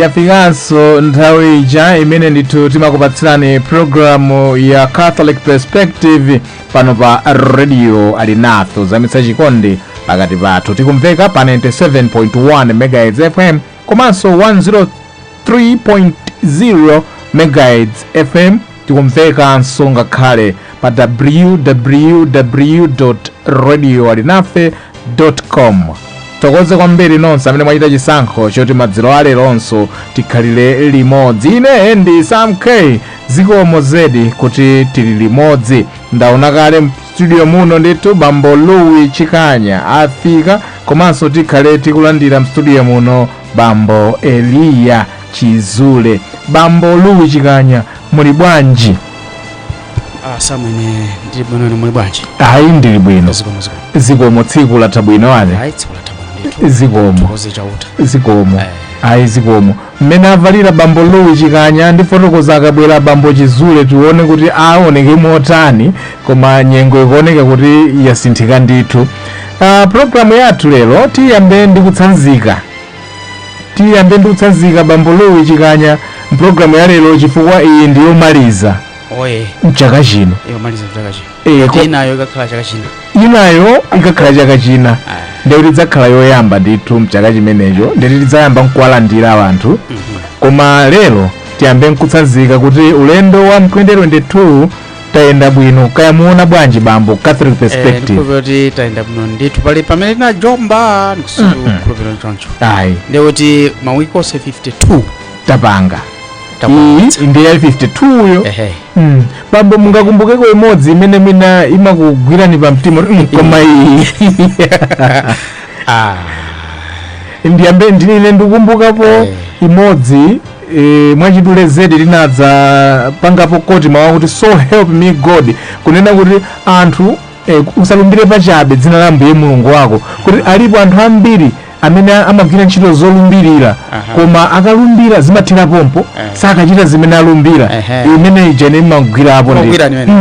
yafikanso nthawi ija imene ndithu timakupatsirani programu ya catholic perspective pano pa radio alinafe zamitsa chikondi pakati pathu tikumveka pa 97.1 megahertz fm komanso 103.0 megahertz fm Tikumvekanso ngakhale pa www radio alinafe com tithokoze kwambiri nonse amene mwachita chisankho choti madzulo aleronso tikhalire limodzi ine ndi sam k zikomo zedi kuti tili limodzi ndaona kale mstudio muno ndithu bambo louis chikanya afika komanso tikhale tikulandira mstudio muno bambo eliya chizule bambo louis chikanya muli bwanji Ah, samwene ndili bwino inu muli bwanji ayi ndili bwino zikomo zikomo zikomo tsiku latha bwino ane ayi tsiku latha bwino ndithu zikomo tithokoze chauta zikomo Eh. ayi zikomo mmene avalira bambo louis chikanya ndifotokoza akabwera bambo chizule tione kuti aoneke motani koma nyengo ikuoneka kuti yasinthika ndithu uh, programu yathu lero tiyambe ndi kutsanzika tiyambe ndi kutsanzika bambo louis chikanya mpulogalamu ya lero chifukwa iyi ndi yomaliza oye mchaka chino yomaliza chaka chino Eh, ko- inayo ikakhala chaka chino inayo ikakhala chaka china ndiye kuti idzakhala yoyamba ndithu mchaka chimenecho ndiye kuti tidzayamba nkuwalandira anthu koma lero tiyambe nkutsanzika kuti ulendo wa 2022 tayenda bwino kaya mukuona bwanji bambo catholic perspective ndikukhulupira kuti tayenda bwino ndithu palibe pamene tinajomba ndikukhulupira choncho ayi ndiye kuti mawiki onse 52 tapanga Tapangitsa. iyi ndi ya 52 yo ehe Mm. bambo mungakumbukeko imodzi imene mwina imakugwirani pa mtima kuti, "Mm, koma iyi ah ndiyambe ndinine ndikumbukapo Eh. imodzi e, mwachidule zedi linadza pangapo koti mawu akuti so help me god kunena kuti anthu e, usalumbire pachabe dzina la ambuye mulungu wako kuti alipo anthu ambiri amene amagwira ntchito zolumbirira Aha. koma akalumbira zimathera pompo Eh. sakachita zimene alumbira Ehe. imene ija imene imagwirapo Imagwira imene.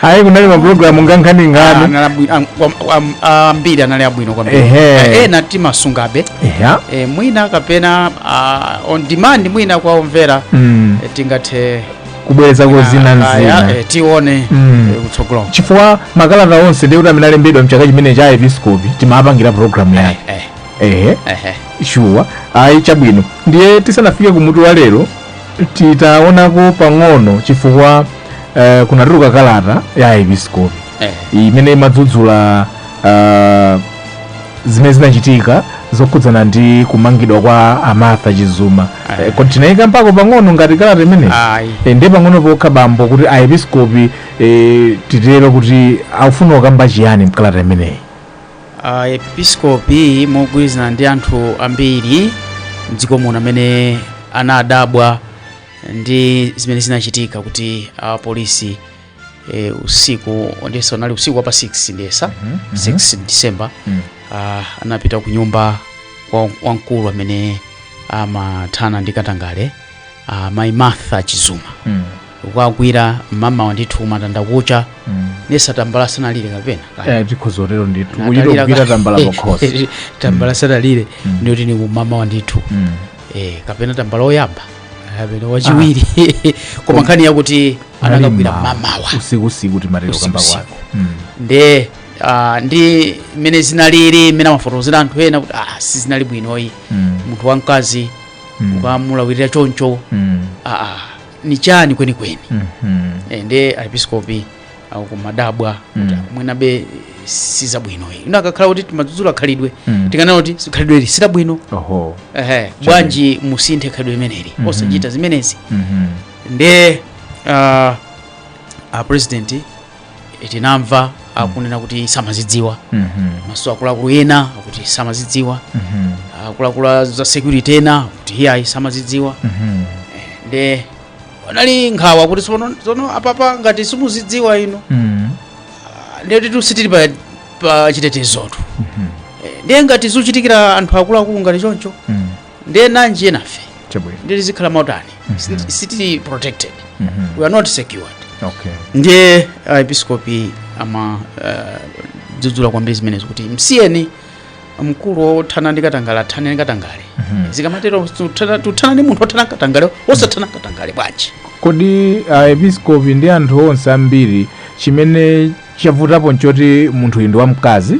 ayi kunali mapulogalamu ngankhaninkani Anali abwi- am- am- am- ambiri anali abwino kwambiri Ehe. Eh, ena timasungabe eya eh, mwina kapena ah, on demand mwina kwa omvera Mm. eh, tingathe kubwerezako zina ah, ah, nzina eh, tione Mm. eh, kutsogolo chifukwa makalata onse ndiye kuti amene alembedwa mchaka chimenechi a episcopi timapangira programu Eh, yake eh, ehe eh, eh. shuwa ayi chabwino ndiye tisanafike kumutu wa lero titaonako pang'ono chifukwa eh, kunatuluka kalata ya aepiskopi Eh. imene imadzudzula ah, zimene zinachitika zokhudzana ndi kumangidwa kwa a martha chizuma Eh. Eh, kodi tinayikambako pang'ono ngati kalata imeneyi Ayi. Eh, ndi pang'ono pokha bambo kuti aepiskopi eh, titero kuti akufuna kukamba chiyani mkalata imeneyi Ah, episkopi mogwirizana ndi anthu ambiri mdziko muno amene anadabwa ndi zimene zinachitika kuti apolisi e, usiku ndiyesa unali usiku wa pa 6 ndiyesa 6 december Mm. ah, anapita ku nyumba kwa wamkulu amene amathana ndi katangale ah, mayi martha chizuma Mm. kukawagwira mamawa ndithu matanda kucha Mm. ndiyesa tambala sanalire kapena Eh, tikhoza kutero ndithu Natalira kuchita kugwira ka- tambala pakhosi tambala sanalire ndiye kuti ni kumamawa ndithu Mm. eh, kapena tambala oyamba kapena wachiwiri koma nkhani yakuti anakawagwira Malima, mamawa usiku usiku timatero Usiku, kamba usiku. kwako Mm. nde ah, ndi mmene zinalili mmene amafotokozera anthu ena kuti ah, sizinali bwino ayi Mm. munthu wamkazi Mm. kukamulawirira choncho Mm. ah, ah, ni chani kwenikweni Mhm. Eh, nde aepiskopi akumadabwa kuti Mm. mwinabe sizabwino ayi ife takhala kuti timadzudzula khalidwe Mm. tikanena kuti si- khalidwe ili silabwino oho ehe bwanji musinthe khalidwe imeneli Mhm. osachita zimenezi Mhm. nde uh, a president tinamva akunena kuti samazidziwa Mhm. komanso akuluakulu ena akuti samazidziwa Mhm. akuluakulu a za security ena akuti iyayi samazidziwa Mhm. nde anali ndi nkhawa kuti sono sono apapa ngati simuzidziwa inu Mm. nde kuti sitili pa, pa chitetezotu Eh, ndiye ngati zikuchitikira anthu akuluakulu ngati choncho Mm. ndiye nanji enafe Chabwino. ndiye tizikhala motani Siti- sitili protected Mhm. we are not secured Okay. ndiye aepiskopi ama uh, dzudzula kwambiri zimenezi kuti msiyeni mkulu wothana ndi katangale athane ndi katangale Mhm. zikamatero tikuthana- tikuthana ndi munthu othana katangale osathana ndi katangale bwanji kodi aepiskopi ndi anthu onse ambiri chimene chavutapo nchoti munthu uyu ndi wamkazi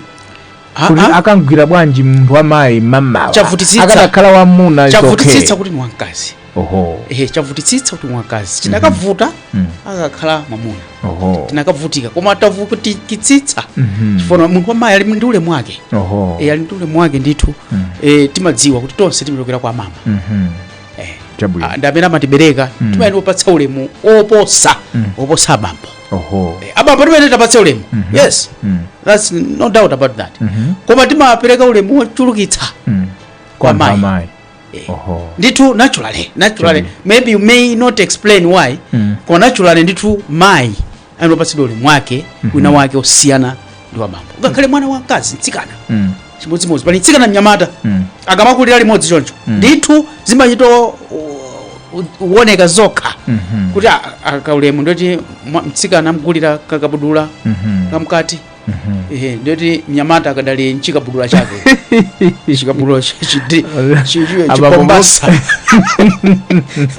Ah, kuti ah, akamgwira bwanji munthu wamayi mamawa Chavutitsitsa. akadakhala mwamuna chavutitsitsa chokhe. kuti ni wamkazi oho ehe chavutitsitsa kuti wamkazi chinakavuta Mm. akanakhala mwamuna oho tinakavutika koma tavutikitsitsa Mhm. chifukwa munthu wamayi ali ndi ulemu wake oho e, ali ndi ulemu wake ndithu Mm. e, timadziwa kuti tonse timachokera kwa amama Mhm. Eh. chabwino Ah, ndi amene amatibereka Mm. timayenera kuwapatsa ulemu oposa Mm. oposa abambo oho Eh, abambo timayenera tiwapatse ulemu Mhm. yes Mm. that's no doubt about that Mhm. koma timapereka ulemu wochulukitsa Mm. Kwa kwa mayi. amayi Eh. Oho. ndithu naturally naturally Chabwino. maybe you may not explain why Mm. koma naturally ndithu mayi anopatsidwa ulemu wake wina wake osiyana ndi wa bambo ngakhale mwana wa mkazi mtsikana Mm. chimodzimodzi pali mtsikana mnyamata Mm. akamakulira limodzi choncho ndithu zimachita kuoneka zokha Mhm. kuti a- a- kaulemu ndoti mwa- mtsikana amgulira kakabudula Mhm. kamkati ehe ndiyoti mnyamata akadali mchikabudula chake chikabudula chi- chi- chi- chi- chi- Chobooka. chipombasa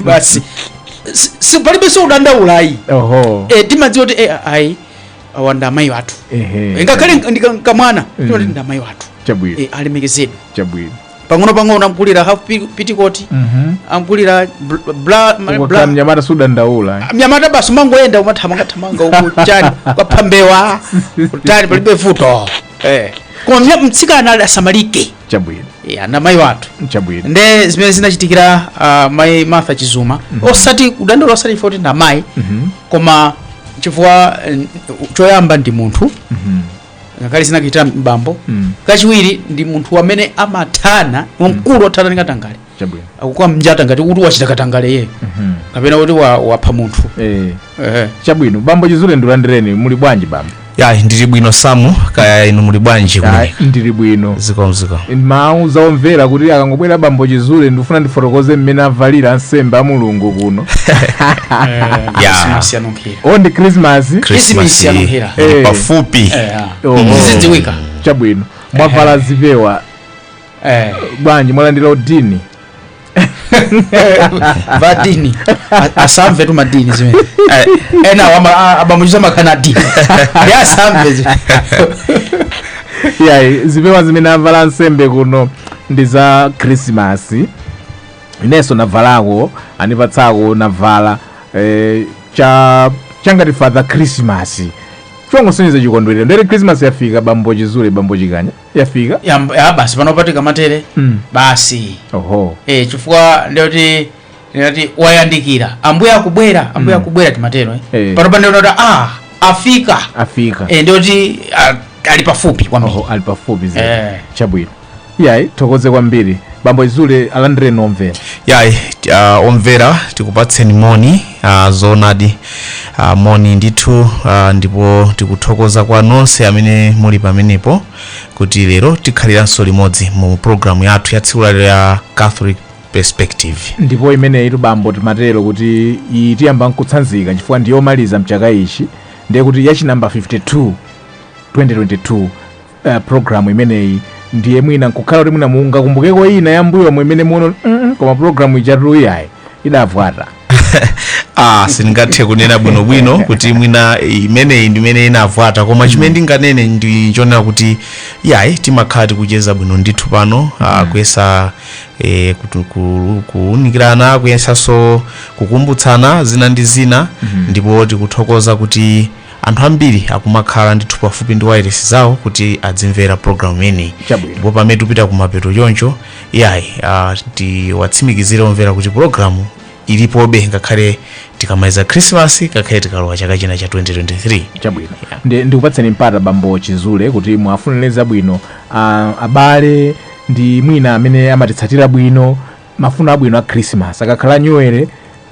basi Si- si- palibe zokudandaula ayi oho Eh, timadziwa kuti eh, ayi awa ndi amayi wathu ehe ngakhale ndi ka- kamwana timati ndi amayi wathu chabwino Eh, alemekezedwe chabwino pang'onopang'ono amgulira half pi- pitikoti Mhm. amgulira bl- bla- ma- Uko bra kaya mnyamata sudandaula mnyamata basi umangoyenda umathamangathamanga uku chani kwapha mbewa kutani palibe vuto Eh. koma mnya- mtsikana ali asamalike chabwino Eh, ndi amayi wathu chabwino nde zimene zinachitikira uh, mayi martha chizuma osati kudandaula osati poti ndi amayi koma chifukwa eh, choyamba ndi munthu ngakhale zinakachitika m'bambo Mm. kachiwiri ndi munthu amene amathana wamkulu othana ndi katangale chabwino akukam'njata ngati kuti wachita katangale yeyo Mhm. kapena kuti wa- wapha munthu Eh, Ehe. chabwino bambo chizule ndilandireni muli bwanji bambo ya ndili bwino samu kaya inu muli bwanji Ah, kumene ndili bwino zikomo zikomo ndinawauza omvera kuti akangobwera bambo chizule ndifuna ndifotokoze mmene avalira ansembe a mulungu kuno ya Khisimasi yanunkhi o ndi krismasi Christmas ya yanunkhira. ili Eh. pafupi Eh, ah. Oh. Zizidziwika. chabwino mwavala zipewa Eh. bwanji mwalandira udini a dini A- asamvetu a dini zimene ena wama- a- abamuchiza bakha adini ndi asamve zimene yayi zipewa zimene avala ansembe kuno ndi za krismasi inenso navalako anipatsako navala eh, cha changati father christmas chongosonyeza chikondwerero ndiye christmas yafika bambo chizule bambo chikanya yafika ya basi pano patika matere Mm. basi oho eh, chifukwa ndiyoti ndiyoti wayandikira ambuye akubwera ambuye akubwera timatero eh. Eh. panopa ndiyoti ah afika afika eh, ndiyoti ah, ali pafupi kwambiri oho ali pafupi zedi Eh. chabwino yayi thokoze kwambiri bambo chizule alandireni omvera yayi uh, omvera tikupatseni moni uh, zoonadi uh, moni ndithu uh, ndipo tikuthokoza kwa nonse amene muli pamenepo kuti lero tikhaliranso limodzi mu programu yathu ya tsiku la lero ya catholic perspective ndipo imeneyi tu bambo timatero kuti iyi tiyamba nkutsanzika chifukwa ndiyomaliza mchaka ichi ndiye kuti ya chinambala 52 2022 uh, program imeneyi ndiye mwina nkukhala kuti mwina mungakumbukeko ina yambuyomu imene muono mm -mm, koma program ijatu iyayi idavuta ah sindingathe kunena bwinobwino kuti mwina imeneyi ndimene inavuta koma chimene ndinganene ndi chonena kuti yayi timakhala tikucheza bwino ndithu pano ah, kuyesa eh, kutu- ku- kuunikirana kuyesanso kukumbutsana zina ndi zina ndipo tikuthokoza kuti Anthu ambiri akumakhala ndithu pafupi ndi wailesi zawo kuti azimvera programu imeneyi Chabwino. ndipo pamene tikupita kumapeto choncho iyayi ah, tiwatsimikizire omvera kuti programu ilipobe ngakhale tikamaliza khrisimasi ngakhale tikalowa chaka china cha 2023 chabwino Ndi- ndikupatseni mpata bambo chizule kuti muwafunire zabwino ah, abale ndi mwina amene amatitsatira bwino mafuno abwino a khrisimasi akakhala a nyuwere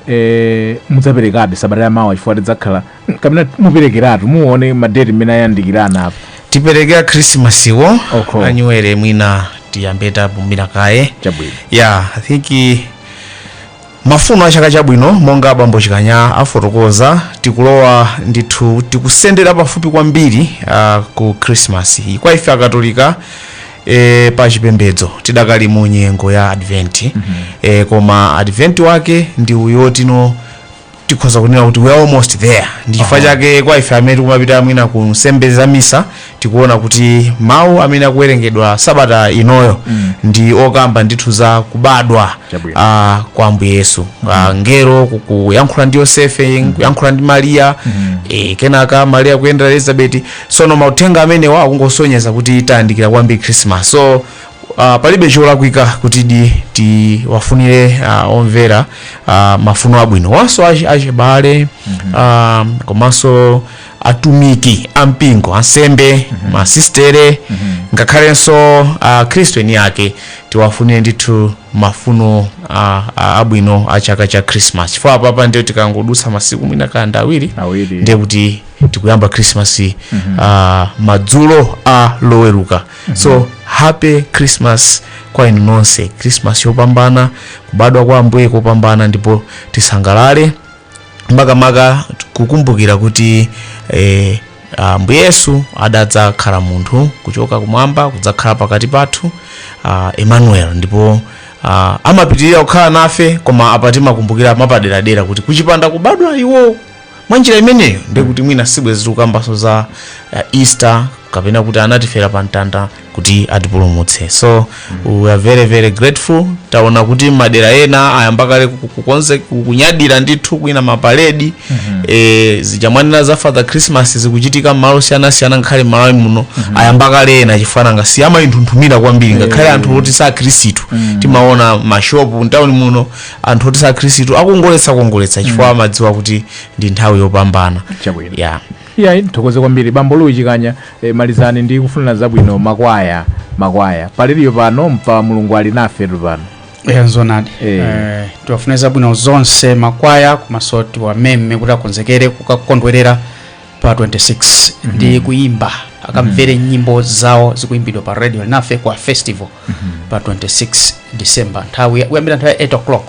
eh, mudzaperekabe sabata ya mawa chifukwa tidzakhala kapena muperekeratu muone madeti mmene ayandikira apa tipereke a khrisimasiwo Okay. anyuwere mwina tiyambe tapumira kaye chabwino ya i think eh, mafuno a chaka chabwino monga abambo chikanya afotokoza tikulowa ndithu tikusendera pafupi kwambiri uh, ku christmas iyi kwa ife akatolika e, pa chipembedzo tidakali mu nyengo ya advent mm -hmm. e, koma advent wake ndi uyo tino tikhoza kunena kuti we are almost there ndi chifukwa chake kwa ife amene tikumapita mwina ku nsembe za misa tikuona kuti mawu amene akuwerengedwa sabata inoyo mm. ndi okamba ndithu za kubadwa Chabwino. uh, kwa ambuye yesu uh, mngelo ku- kuyankhula ndi yosefe kuyankhula ndi mariya eh, kenaka mariya kuyendera elizabeti sono mauthenga amenewa akungosonyeza kuti tayandikira kwambiri christmas so uh, palibe cholakwika kutidi tiwafunire uh, omvera uh, mafuno abwinowa nso achi- achibale um, komanso atumiki ampingo ansembe masistere ngakhalenso uh, akhristu eni ake tiwafunire ndithu mafuno uh, uh, abwino a chaka cha christmas chifukwa apapa ndiye tikangodutsa masiku mwina kanda awiri Awiri. ndiye kuti tikuyamba christmas mm -hmm. uh, madzulo a loweruka mm -hmm. so happy christmas kwa inu nonse christmas yopambana kubadwa kwa ambuye kopambana ndipo tisangalale makamaka kukumbukira kuti eh, ambuye yesu adadzakhala munthu kuchoka kumwamba kudzakhala pakati pathu uh, emmanuel ndipo uh, amapitirira kukhala nafe koma apa timakumbukira mapaderadera kuti kukanapanda kubadwa iwo mwa njira imeneyo ndiye kuti mwina sibwezi tikukambanso za uh, easter kapena kuti anatifera pa mtanda kuti atipulumutse so we are very very grateful taona kuti madera ena ayamba kale ku- kukonze ku- kunyadira ndithu kwina mapaledi eh, zija mwanena za father christmas zikuchitika mmalo siyanasiyana ngakhale mmalawi muno ayamba kale ena chifukwa nanga si amaithunthumira kwambiri ngakhale anthu oti si akhristu timaona mashopu mtawuni muno anthu oti si akhristu akongoletsa kongoletsa chifukwa amadziwa kuti ndi nthawi yopambana Chabwino. yeah. iyayi ndithokoze kwambiri bambo louis chikanya e, malizani ndi kufunira zabwino makwaya makwaya pali iwo pano mpa mulungu ali nafetu pano ya zoonadi Eh. eh, tiwafunira zabwino zonse makwaya komanso tiwameme kuti akonzekere kukakondwerera pa 26 ndi kuimba akamvere nyimbo zawo zikuimbidwa pa radio alinafe kwa festival pa 26 december nthawi ya- kuyambira nthawi ya 8 o'clock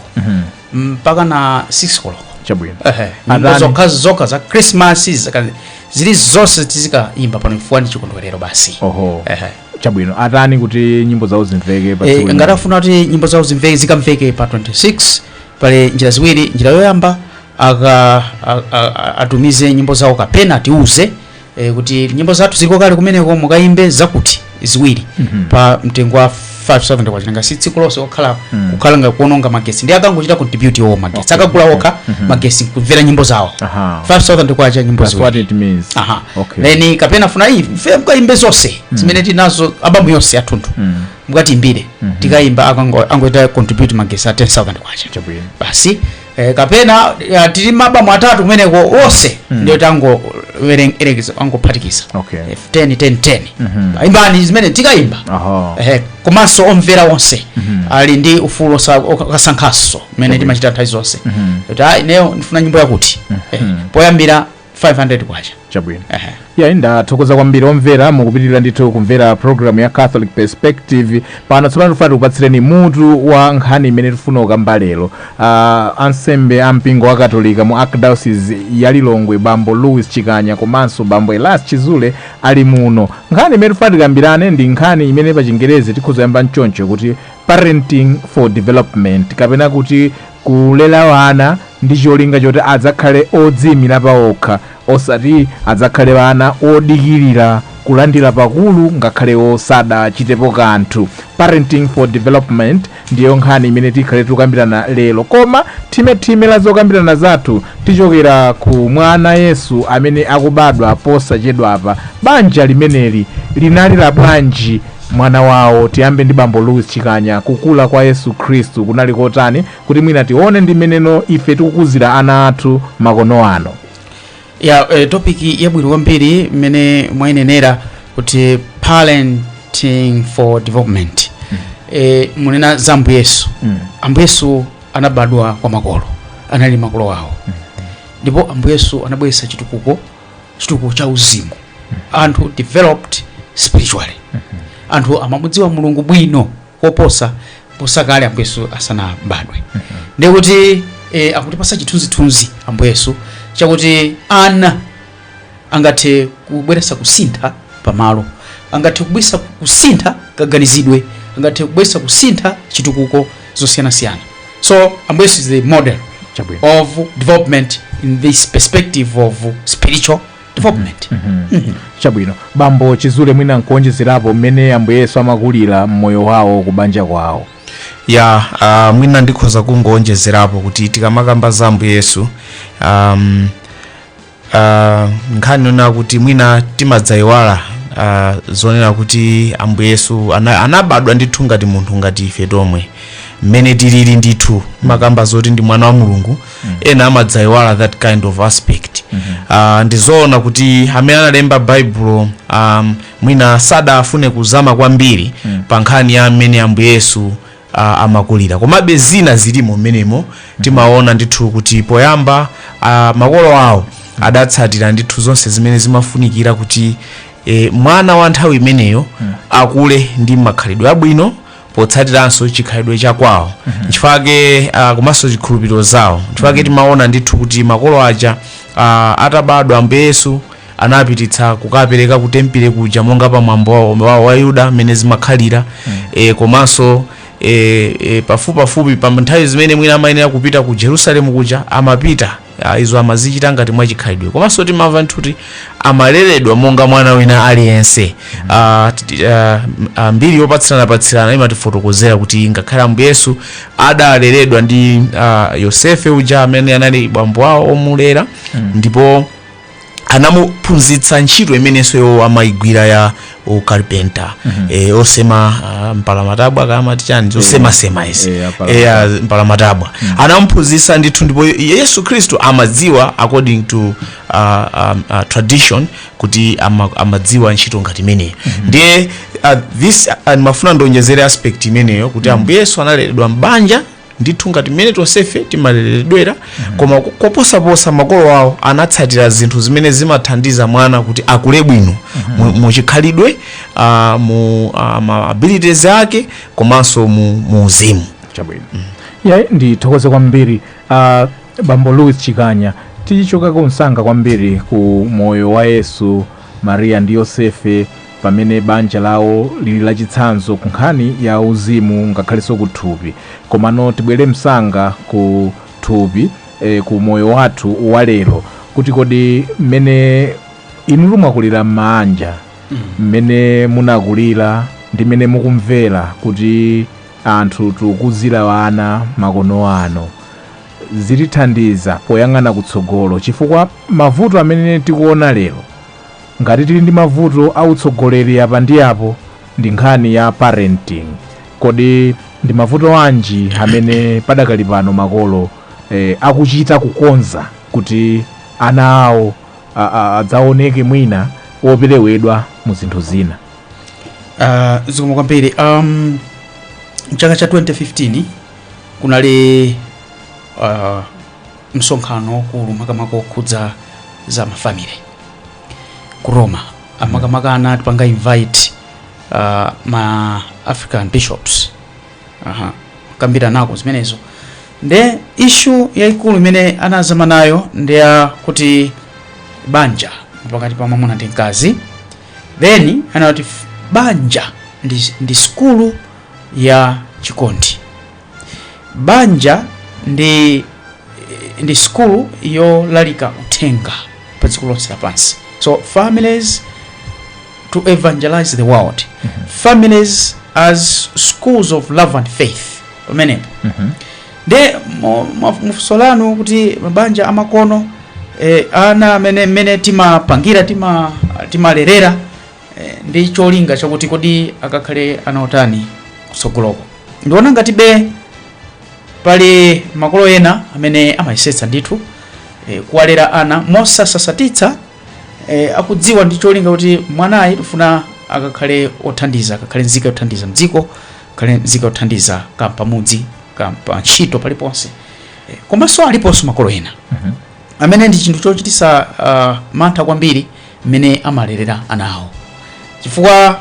mpaka na 6 o'clock chabwino Ehe, nyimbo Adhani. zokha zokha za christmas zaka- zili zonse tizikaimba pano chifukwa ndi chikondwerero basi oho Ehe. chabwino atani kuti nyimbo zawo zimveke pa Eh, tsiku ngati lina? ngati afuna kuti nyimbo zawo zimveke zikamveke pa 26 pali njira ziwiri njira yoyamba aka a- a- a- atumize nyimbo zawo kapena atiuze eh, kuti nyimbo zathu ziliko kale kumeneko mukayimbe zakuti ziwiri Mhm. pa mtengo wa 5000 kwacha nanga si tsiku lonse okhala Mm. kukhala ngati kuononga magesi ndi akangochita contribute iwo magesi Okay. akagula okha Mhm. magesi kumvera nyimbo zawo Aha. 5000 kwacha nyimbo That's ziwiri what it means. aha Okay. then kapena afuna iyayi ife mukayimbe zonse zimene tinazo abamu yonse yathunthu Mm. mukatiyimbire Mhm. tikayimba akango- angochita contribute magesi a 10000 kwacha Chabwino. basi eh, kapena eh, tili ndi maabamu atatu kumeneko onse Mm. ndiye tangoyerekeza angophatikiza Okay. Eh, 10 10 10 Mhm. imbani zimene tikayimba Aha. eh, komanso omvera onse Mhm. ali ndi ufulu osa- oka- okasankhanso mmene timachita nthawi zonse Mhm. kuti ayi ineyo ndifuna nyimbo yakuti eh, Mhm. poyambira 500 kwacha chabwino Ehe. yayi ndathokoza kwambiri omvera mukupitiriza ndithu kumvera programu ya catholic perspective pano tsopano tifuna tikupatsireni mutu wa nkhani imene tifuna kukamba lero uh, ansembe a mpingo wa katolika mu archdiocese ya lilongwe bambo louis chikanya komanso bambo elias chizule ali muno nkhani imene tifuna tikambirane ndi nkhani imene pa chingerezi tikhoza kuyamba mchoncho kuti parenting for development kapena kuti Kulera ana ndi cholinga choti adzakhale odziimira paokha osati adzakhale ana odikirira kulandira pakulu ngakhale osadachitepo kanthu. Parenting for Development ndiyo nkhani imene tikhale tikukambirana lero koma thimethime la zokambirana zathu tichokera ku mwana Yesu amene akubadwa posachedwapa. Banja limeneli linali labwanji? mwana wawo. Tiyambe ndi bambo Louis Chikanya. Kukula kwa Yesu Khristu kunali kotani kuti mwina tione ndi mmeneno ife tikukuzira ana athu makono ano? ya eh, topic yabwino kwambiri mmene mwainenera kuti parenting for development eh, munena za ambuye yesu Mm. ambuye yesu anabadwa kwa makolo anali makolo awo ndipo ambuye yesu anabweretsa chitukuko chitukuko cha uzimu anthu developed spiritually anthu amamudziwa mulungu bwino koposa kuposa kale ambuye yesu asanabadwe ndiye kuti eh, akutipasa chithunzithunzi ambuye yesu chakuti ana angathe kubweresa kusintha pamalo angathe kubweresa kusintha kaganizidwe angathe kubweresa kusintha chitukuko zosiyanasiyana so ambuye yesu is the model of development in this perspective of spiritual development chabwino bambo chizule mwina nkuonjezerapo mmene ambuye yesu amakulira mmoyo wawo kubanja kwawo ya uh, mwina ndikhoza kungoonjezerapo kuti tikamakamba za ambuye yesu um, Ah, nkhani yonena kuti mwina timadzayiwala ah, zonena kuti ambuye yesu ana- anabadwa ndithu ngati munthu ngati ife tomwe mmene tilili ndithu tikamakamba zoti ndi mwana wa mulungu ena amadzayiwala that kind of aspect Ah, ndizoona kuti amene analemba baibulo um, mwina sadafune kuzama kwambiri pa nkhani ya mmene ambuye yesu a, amakulira komabe zina zilimo mmenemo timaona ndithu kuti poyamba a, makolo awo adatsatira ndithu zonse zimene zimafunikira kuti e, mwana wa nthawi imeneyo akule ndi makhalidwe abwino potsatiranso chikhalidwe cha kwawo nchifake uh, komanso zikhulupiriro zawo nchifake timaona ndithu kuti makolo aja uh, atabadwa ambuye yesu anapititsa kukapereka ku tempile kuja monga pa mwambo wawo wawo wa Ayuda mmene zimakhalira e, komanso e, e, pafupipafupi pa nthawi zimene mwina amayenera kupita ku jerusalemu kuja amapita Ah, izo amazichita ngati mwachikhalidwe komanso timamva nthuti amaleredwa monga mwana wina aliyense Ah, titi- ah, m- ah, mbiri yopatsiranapatsirana imatifotokozera kuti ngakhale ambuye yesu adaleredwa ndi ah, yosefe uja amene anali bambo wawo omulera ndipo anamuphunzitsa ntchito imenenso iwo amaigwira ya ukalipenta eh, osema ah, mpalamatabwa amati chani zosemasema izi eh, apalamatabwa. Eh, ah, mpalamatabwa anamuphunzitsa ndithu ndipo yesu khristu amadziwa according to uh, um, uh, tradition kuti ama, amadziwa ntchito ngati imeneyo ndiye uh, this uh, ndimafuna ndionjezere aspect imeneyo kuti ambuye yesu analeredwa m'banja ndithu ngati mmene tonsefe timaleredwera koma ko- koposaposa makolo awo anatsatira zinthu zimene zimathandiza mwana kuti akule bwino mu- muchikhalidwe ah, mu ah, ma abilities ake komanso mu mu uzimu chabwino ya ndithokoze kwambiri uh, bambo louis chikanya tichokako msanga kwambiri ku moyo wa yesu mariya ndi yosefe pamene banja lawo lili lachitsanzo ku nkhani ya uzimu ngakhalenso ku thupi komano tibwere msanga ku thupi e, ku moyo wathu wa lero kuti kodi mmene inu mwakulira m'maanja mmene munakulira ndi mmene mukumvera kuti anthu tikuzira ana makono ano zitithandiza poyang'ana kutsogolo chifukwa mavuto amene tikuona lero Ngati tili ndi mavuto a utsogoleri apa ndi apo ndi nkhani ya parenting. Kodi ndi mavuto anji amene padakali pano makolo akuchita kukonza kuti ana awo adzaoneke mwina operewedwa mu zinthu zina? Zikomo kwambiri. Mchaka cha 2015 kunali msonkhano waukulu makamaka okhudza za mafamily ku roma makamaka anatipanga invite uh, ma african bishops Aha. kambiranako zimenezo nde issue yaikulu imene anazama nayo ndi yakuti banja pakati pa mwamuna ndi mkazi then anati f- banja ndi, ndi skulu ya chikondi Banja ndi ndi sukulu yolalika uthenga pa dziko lonse lapansi so families to evangelize the world families as schools of love and faith pamenepo nde mu- mu- mufunso lanu kuti mabanja amakono eh, ana amene mmene timapangira tima timalerera eh, ndi cholinga chakuti kodi akakhale ana otani kutsogoloko ndiona ngatibe pali makolo ena amene amayesetsa ndithu eh, kuwalera ana mosasatitsa eh, akudziwa ndi cholinga kuti mwanayi tifuna akakhale othandiza akakhale nzika yothandiza mdziko akakhale nzika yothandiza kapamudzi kapa ntchito paliponse eh, komanso aliponso makolo ena amene ndi chinthu chochititsa uh, mantha kwambiri mmene amalerera ana awo chifukwa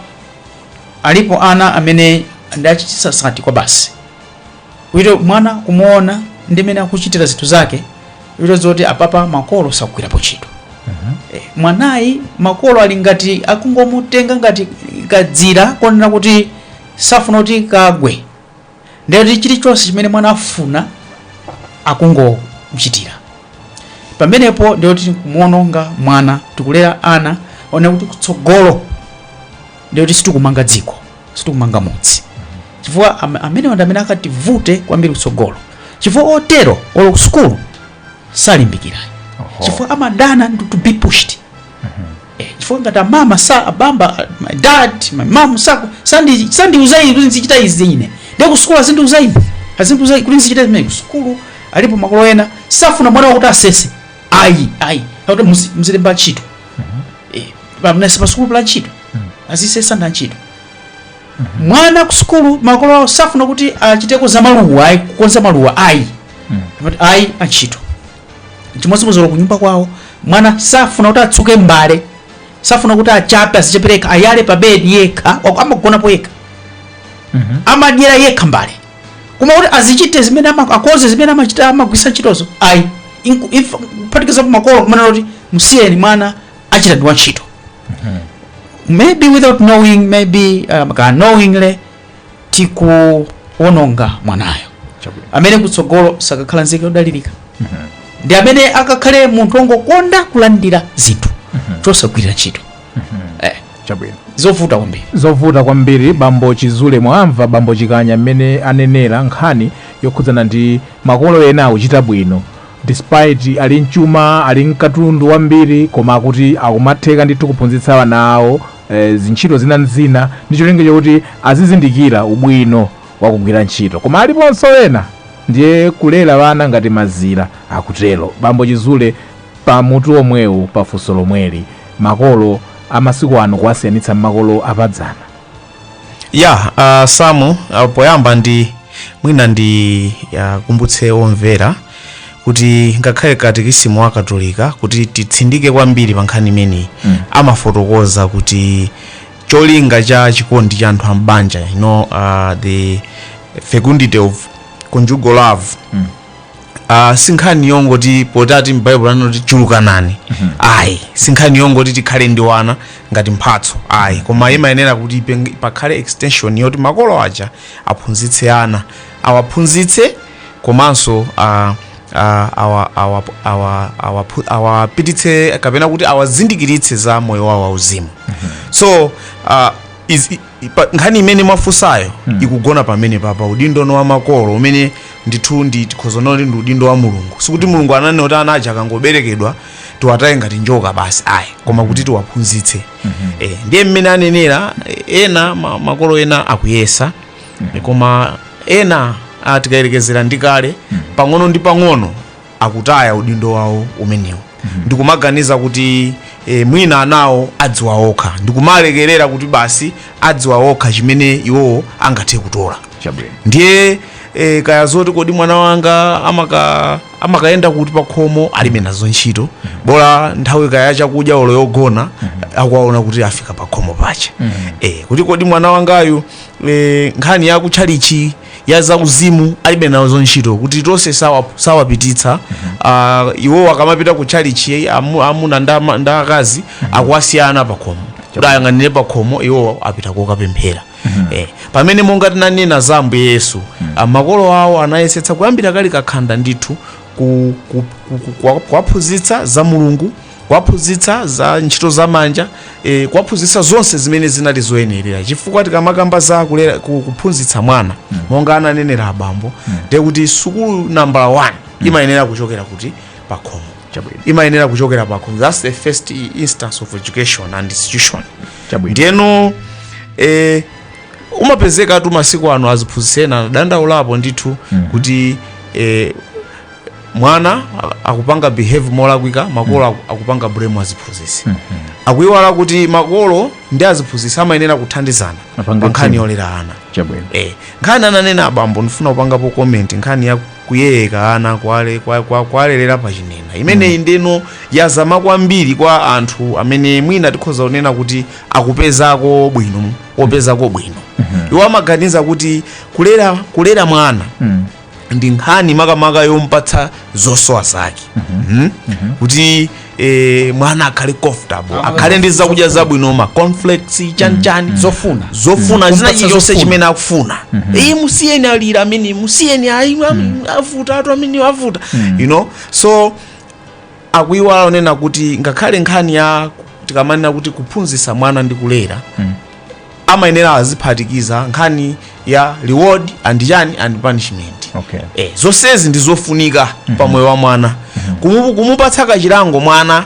alipo ana amene ndi ochititsa sati kwa basi kuito mwana kumuona ndi mmene akuchitira zinthu zake kuito zoti apapa makolo sakugwirapo ntchito Eh, mwanayi makolo ali ngati akungomutenga ngati kadzira konena kuti safuna kuti kagwe ndiye kuti chilichonse chimene mwana afuna akungomuchitira pamenepo ndiye kuti kumuononga mwana tikulera ana onena kuti kutsogolo ndiye kuti sitikumanga dziko sitikumanga mudzi chifukwa am- amenewa ndi amene akativute kwambiri kutsogolo chifukwa otero olo kusukulu salimbikira chifukwa amadana ndi to be pushed Eh, chifukwa ngati amama abambo my dad my mom sa sandi sandiuza ine kuti ndizichita izi ine ndiye kusukulu azindiuza ine azindiuza kuti ndizichita zimene kusukulu alipo makolo ena safuna mwana wakuti asese ayi ayi akuti muzi- muzilemba antchito Eh, pamene pasukulu pali antchito azisesa ndi antchito mwana kusukulu makolo awo safuna kuti achiteko za maluwa ayi kukonza maluwa ayi Amati, ayi antchito chimodzimodzi kunyumba kwawo mwana safuna kuti atsuke mbale safuna kuti achape azichapa yekha ayale pa bedi yekha amagonapo yekha amadyera yekha mbale koma kuti azichite zimene ama- akonze zimene amachita amagwisa ntchitozo ayi Inku- if- kuphatikizapo makolo kumene kuti msiyeni mwana achita ndi wantchito maybe without knowing maybe um, unknowingly tikuononga mwanayo Chabwino. amene kutsogolo sakakhala nzika yodalirika ndi amene akakhale munthu wongokonda kulandira zinthu osagwirira ntchito eh, chabwino zovuta kwambiri zovuta kwambiri bambo chizule mwamva bambo chikanya mmene anenera nkhani yokhudzana ndi makolo ena akuchita bwino despite ali mchuma ali mkatundu wambiri koma akuti akumatheka ndithu kuphunzitsa ana awo zintchito zina ndi zina ndi cholinga chakuti azizindikira ubwino wa kugwira ntchito. Koma aliponso ena ndiye kulera ana ngati mazira, akutero bambo Chizule pa mutu womwewu pa funso lomweli. Makolo a masiku ano kuwasiyanitsa ndi makolo a padzana. ya uh, samu uh, poyamba ndi mwina ndi uh, wakumbutse omvera kuti ngakhale katekisimu wa katolika kuti titsindike kwambiri pa nkhani imeneyi mm. amafotokoza kuti cholinga cha chikondi cha anthu ambanja you know, uh, the fecundity of conjugal love mm. Uh, sinkhani yongoti potati m'baibulo anati chulukanani ayi sinkhani yongoti tikhale ndi wana ngati mphatso ayi koma imayenera kuti ipeng- pakhale extension yoti makolo aja aphunzitse ana awaphunzitse komanso uh, uh, awa- awa- awa- awaphu- awapititse kapena kuti awazindikiritse za moyo wawo wauzimu so uh, is, Pa nkhani imene mwafunsayo ikugona pamenepa pa udindo no wa makolo umene ndithu ndi tikhoza kuti ndi udindo wa mulungu sikuti mulungu ananena kuti ana aja akangoberekedwa tiwataye ngati njoka basi ayi koma kuti tiwaphunzitse eh, ndiye mmene anenera eh, ena ma, makolo ena akuyesa eh, koma ena ah, tikayerekezera ndi kale pang'ono ndi pang'ono akutaya udindo wawo umenewu ndikumaganiza kuti e, mwina anawo adziwa okha ndikumalekerera kuti basi adziwa okha chimene iwowo angathe kutola chabwino ndiye e, kaya zoti kodi mwana wanga amaka- amakayenda kuti pakhomo alibe nazo ntchito bola nthawi kaya ya chakudya olo yogona akuwaona kuti afika pakhomo pache e, kuti kodi mwana wangayu e, nkhani ya kutchalitchi ya zauzimu alibe nazo ntchito kuti tonse sawa- sawapititsa Ah, iwowo akamapita ku tchalitchi amu- amuna ndi ama- ndi akazi akuwasiya ana pakhomo kuti ayang'anire pakhomo iwowo apita kokapemphera Eh, pamene monga tinanena za ambuye yesu ah, makolo awo anayesetsa kuyambira akali kakhanda ndithu ku- ku- ku- ku- kuwaphunzitsa za mulungu kuwaphunzitsa za ntchito za manja e, kuwaphunzitsa zonse zimene zinali zoyenerera chifukwa tikamakamba za kulera, ku- kuphunzitsa mwana monga ananenera abambo ndiye kuti sukulu nambala 1 imayenera kuchokera kuti pakhomo Chabwino. imayenera kuchokera pakhomo that's the first i- instance of education and institution Chabwino. ndiyeno eh, umapezekatu masiku ano aziphunzitsi ena adandaulapo ndithu kuti eh, mwana a- akupanga behave molakwika makolo aku- akupanga blame aziphunzitsi akuiwala kuti makolo ndi aziphunzitsi amayenera kuthandizana Apange pa nkhani team. yolera ana chabwino eh, nkhani ananena abambo ndifuna kupangapo comment nkhani ya kuyeyeka ana kwale- kwa- kwa- kwalelera pa chinena imeneyi ndeno yazama kwambiri kwa anthu amene mwina tikhoza kunena kuti akupezako bwino opezako bwino iwo amaganiza kuti kulera kulera mwana ndi nkhani makamaka yompatsa zosowa zake Mhm. kuti eh, mwana akhale comfortable akhale ndi zakudya zabwino ma cornflakes chanichani zofuna zofuna zina Kumpatsa chilichonse zofuna. chimene akufuna ayi musiyeni alira ameneyo musiyeni ayi am- avutatu ameneyo avuta you know so akuiwala kunena kuti ngakhale nkhani ya tikamanena kuti kuphunzitsa mwana ndi kulera amayenera aziphatikiza nkhani ya reward and chani and punishment Okay. eh, zonsezi ndi zofunika pa moyo wa mwana Kumu- kumupatsa kachilango mwana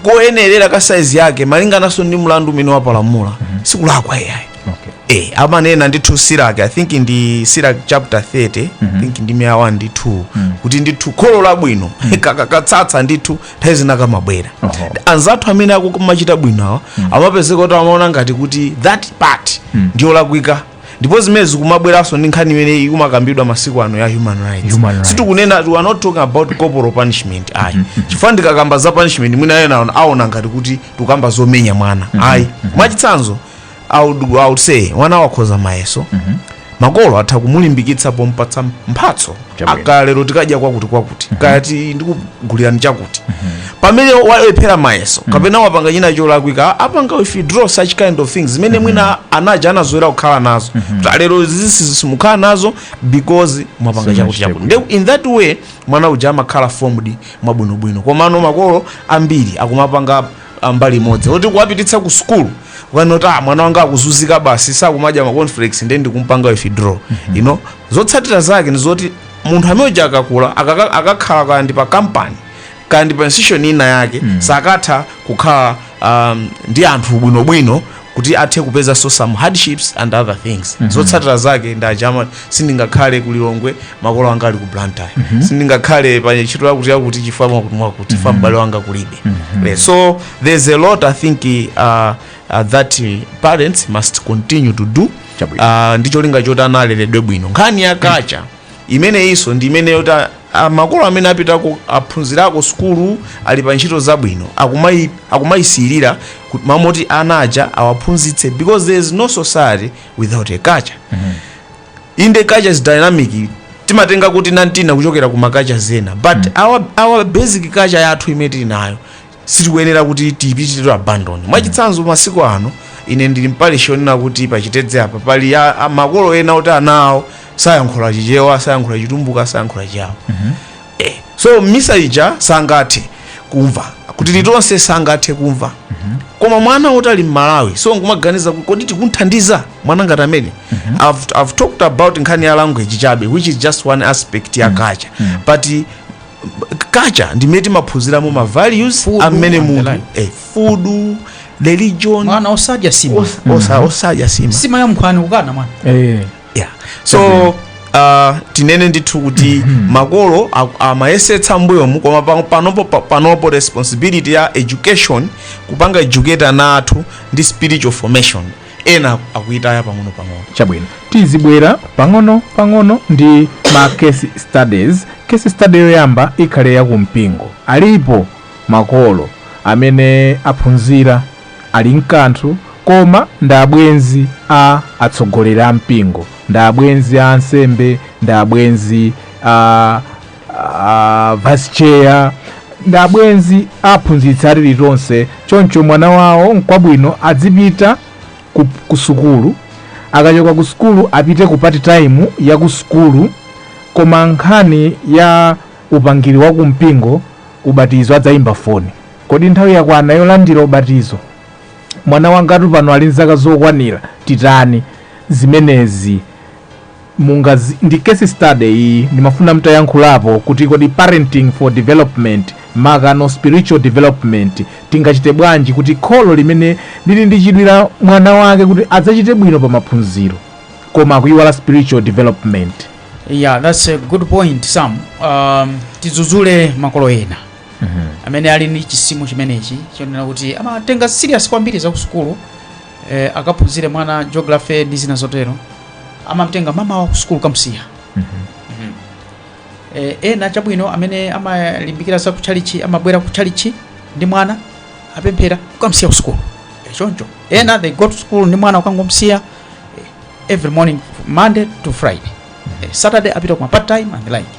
koyenerera ka saizi yake malingananso ndi mlandu umene wapalamula sikulakwa iyayi Okay. eh, amanena ndithu siraki i think ndi siraki chapter 30 i think ndime ya 1 ndi 2 kuti ndithu kholo labwino kaka- katsatsa ndithu nthawi zina kamabwera anzathu amene akumachita bwino awa amapezeka kuti amaona ngati kuti that part ndiyolakwika ndipo zimene zikumabweranso ndi nkhani imene ikumakambidwa masiku ano ya human rights sitikunena we are not talking about corporal punishment ayi chifukwa ndikakamba za punishment mwina ena aona- aona ngati kuti tikukamba zomenya mwana ayi mwachitsanzo I would, I would say mwana wakhoza mayeso makolo atha kumulimbikitsa pompatsa mphatso Chabwino. kaya lero tikadya kwakuti kwakuti kaya ti ndikugulirani chakuti pamene walephera mayeso kapena wapanga china cholakwika apanga withdraw such kind of things zimene mwina ana aja anazolowera kukhala nazo Ta lero zisi simukhala nazo because mwapanga Sina chakuti chakuti chiteku. Nde in that way mwana uja amakhala formed mwabwinobwino komano makolo ambiri akumapanga a mbali imodzi oti kuwapititsa ku sukulu ukanena kuti ah, mwana wanga akuzunzika basi sakumadya ma cornflakes ndiye ndikumpanga withdraw you know zotsatira zake ndi zoti munthu amene uja akakula akaka- akakhala kaya ndi pa kampani kaya ndi pa institution ina yake sakatha kukhala um, ndi anthu bwinobwino kuti athe kupezanso some hardships and other things zotsatira zake nde aja ma sindingakhale ku lilongwe makolo anga ali ku blantyre sindingakhale pa ntchito yakuti yakuti chifukwa mwakuti mwakuti chifukwa m'bale wanga kulibe Eh, so there's a lot i think uh, uh, that uh, parents must continue to do Chabwino. uh, ndi cholinga choti ana aleredwe bwino nkhani ya culture imeneyinso ndi imene yoti a- a- makolo amene apitako aphunzirako sukulu ali pa ntchito zabwino akumai- akumayisiyirira mwamomoti ana aja awaphunzitse because there is no society without a culture inde culture is dynamic timatenga kutinakutina kuchokera ku macultures ena but our, our basic culture yathu imene tili nayo sitikuyenera kuti tiipangiretu abandon mwachitsanzo masiku ano ine ndili mparish yonena kuti pachitedze apa pali a- a- makolo ena oti ana awo sayankhula chichewa sayankhula chitumbuka sayankhula chiyawo eh, so misa ija sangathe kumva chilichonse sangathe kumva koma mwana woti ali mmalawi so nkumaganiza kuti kodi tikumthandiza mwana ngati amene I've, i've talked about nkhani ya language chabe which is just one aspect ya culture but culture ndimene timaphunziramo ma values Food amene and the munthu like. eh, food religion mwana osadya nsima os- osa- osadya nsima nsima ya nkhwani kukana mwana Eh. yeah. so uh, tinene ndithu kuti makolo a- amayesetsa mbuyomu koma pa- panopo pa- panopo responsibility ya education kupanga educate ana athu ndi spiritual formation ena akuyitaya pang'ono pang'ono chabwino tizibwera pang'ono pang'ono ndi ma case studies case study yoyamba ikhale ya kumpingo alipo makolo amene aphunzira ali mkanthu koma ndi abwenzi a atsogoleri a mpingo ndi abwenzi a ansembe ndi abwenzi a uh, vice chair ndi abwenzi aphunzitsi a tilitonse choncho mwana wawo nkwabwino adzipita ku, ku sukulu akachoka ku sukulu apite ku part time ya ku sukulu koma nkhani ya upangiri wa kumpingo ubatizo adzayimba foni kodi nthawi yakwana yolandira ubatizo mwana wangatu pano ali nzaka zokwanira titani zimenezi mungaz ndi case study iyi ndimafuna mtayankhulapo kuti kodi parenting for development maka no spiritual development tingachite bwanji kuti kholo limene lili ndi chidwi la mwana wake kuti adzachite bwino pa maphunziro koma akuyiwala spiritual development yeah that's a good point sam um, tidzudzule makolo ena amene ali ndi chisimo chimenechi chonena kuti amatenga serious kwambiri za kusukulu eh, akaphunzire mwana geography ndi zina zotero amamtenga mmamawa kusukulu kamsiya eh, ena chabwino amene amalimbikira za kuchalichi amabwera kuchalichi ndi mwana apemphera kukamsiya ku sukulu eh, choncho ena they go to school ndi mwana ukangomsiya eh, every morning monday to friday eh, saturday apita kuma part time and the like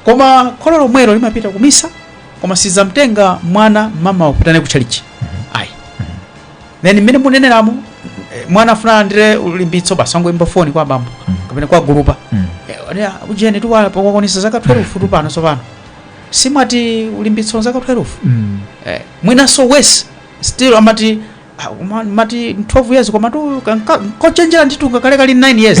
koma kholo lomwelo limapita kumisa koma sizamtenga mwana mmamawa kupita naye kuchalichi then mmene muneneramo eh, mwana afuna alandire ulimbitso basi angoyimba foni kwa bambo Mm. kapena kwa gulupa Mm. Eh, ane, ah, ujeni tiwala wakwanitsa zaka 12 futu pano tsopano simmati ulimbitso zaka 12 Mm. eh, mwinanso worse still amati ah, uma- mati 12 years koma tu kanka- nkochenjera nditu ngakhale kali 9 years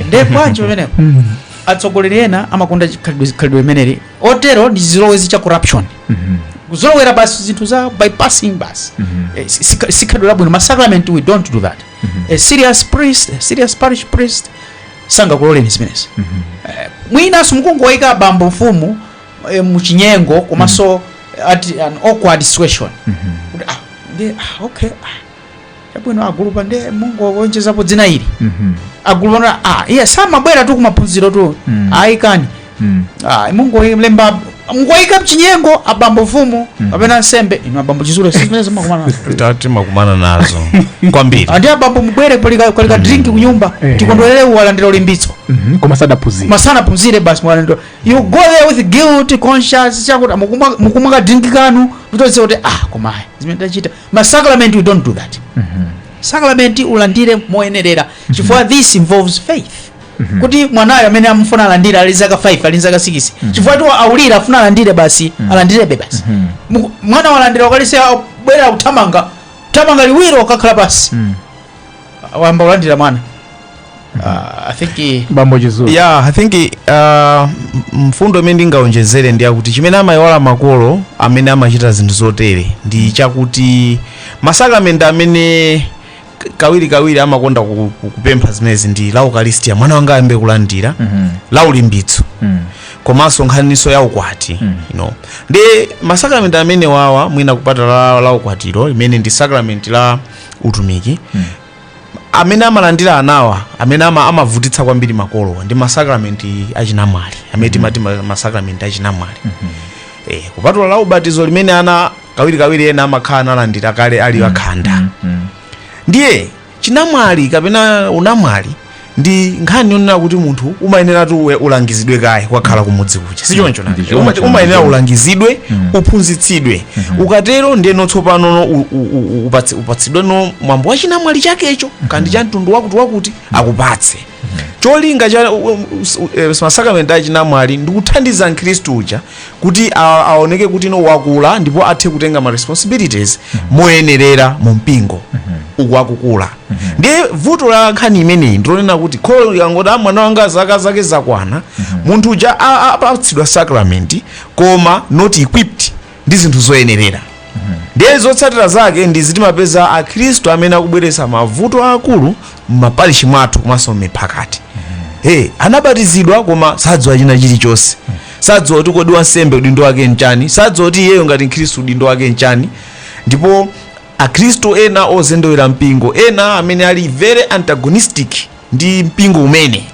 nde bwanji pamenepo Mm. atsogoleri ena amakonda chikhalidwe khalidwe limeneli otero ndi chizolowezi cha corruption Mhm. kuzolowera basi zinthu za bypassing basi Mhm. Eh, si- si- sikhalidwe labwino masacrament we don't do that Mhm. a serious priest a serious parish priest sangakuloleni zimenezi Mhm. Eh, mwinanso mukungoyika bambo mfumu eh, muchinyengo komanso at an awkward situation Mhm. Kuti, ah, ndi- ah, okay ah, chabwino agulupa nde mungowonjezapo dzina ili Mhm. agulupa no ah iye samabwera tu kumaphunziro tu Mm. ayi ikani Mm. ah mungolemba mungoyika mchinyengo abambo mfumu kapena nsembe inu abambo chizule sizimene mumakumana nazo ta- timakumana nazo kwambiri and abambo mubwere kuli ka kuli ka drink kunyumba Eh. tikondwerere walandira ulimbitso Mhm. koma sadaphunzira musanaphunzire basi mwalandira you go there with guilt conscience chakuti mukumwa- mukumwa ka drink kanu mutozise kuti ah koma ayi zimene tachita ma sacrament we don't do that mm -hmm. sacrament ulandire moyenerera mhm. chifukwa mm -hmm. this involves faith mm -hmm. kuti mwanayo amene amufuna alandire ali zaka 5 ali zaka 6 mm -hmm. chifukwa tu aulira afuna alandire basi mm -hmm. alandirebe basi mm -hmm. mwana walandira ukalistia abwera uthamanga uthamanga liwiro ukakhala pansi mm -hmm. wayamba kulandira mwana Ah, i think eh, bambo chizulu ya i think uh, mfundo imene ndingaonjezere ndi yakuti chimene amayiwala makolo amene amachita zinthu zotere ndi chakuti masakramenti amene k- kawirikawiri amakonda ku- ku- kupempha zimenezi ndi la ukalistia mwana wanga ayambe kulandira Mhm. la ulimbitso Mm. komanso nkhaniso ya ukwati Mm. you know. ndi masakramenti amene wawa mwina kupata la, la ukwatiro limene ndi sakramenti la utumiki amene amalandira anawa amene ama, amavutitsa kwambiri makolowa ndi masakramenti achinamwali amene timati ma- masakramenti achinamwali eh, kupatula la ubatizo limene ana kawirikawiri ena amakhala analandira kale ali akhanda ndiye chinamwali kapena unamwali ndi nkhani yonena kuti munthu umayeneratu uwe- ulangizidwe kaye kwakhala kumudzi kuja si choncho nake? Ndicho, Uma- ndicho, umayenera ndicho. ulangizidwe uphunzitsidwe ukatero ndiyeno tsopano no u- u- u- upatsi- upatsidwe no mwambo wa chinamwali chakecho kandi cha mtundu wakuti wakuti akupatse cholinga cha u- u- us- u- eh, masakramenti a chinamwali ndi kuthandiza mkhristu uja kuti a- aoneke kuti no wakula ndipo athe kutenga ma responsibilities moyenerera mu mpingo uku akukula ndiye vuto la nkhani imeneyi ndilonena kuti kholo lingoti "Ah, mwana wanga zaka zake zakwana munthu uja a- a- apatsidwa sakramenti koma not equipped ndi zinthu zoyenerera ndiye zotsatira zake ndizoti timapeza akhristu amene akubweretsa mavuto aakulu m'maparishi mwathu komanso m'miphakati hey, anabatizidwa koma sadziwa china chilichonse sadziwa kuti kodi wansembe udindo wake nchani sadziwa kuti iyeyo ngati mkhristu udindo wake nchani ndipo Akhristu ena ozendewera mpingo, ena amene ali very antagonistic ndi mpingo umene,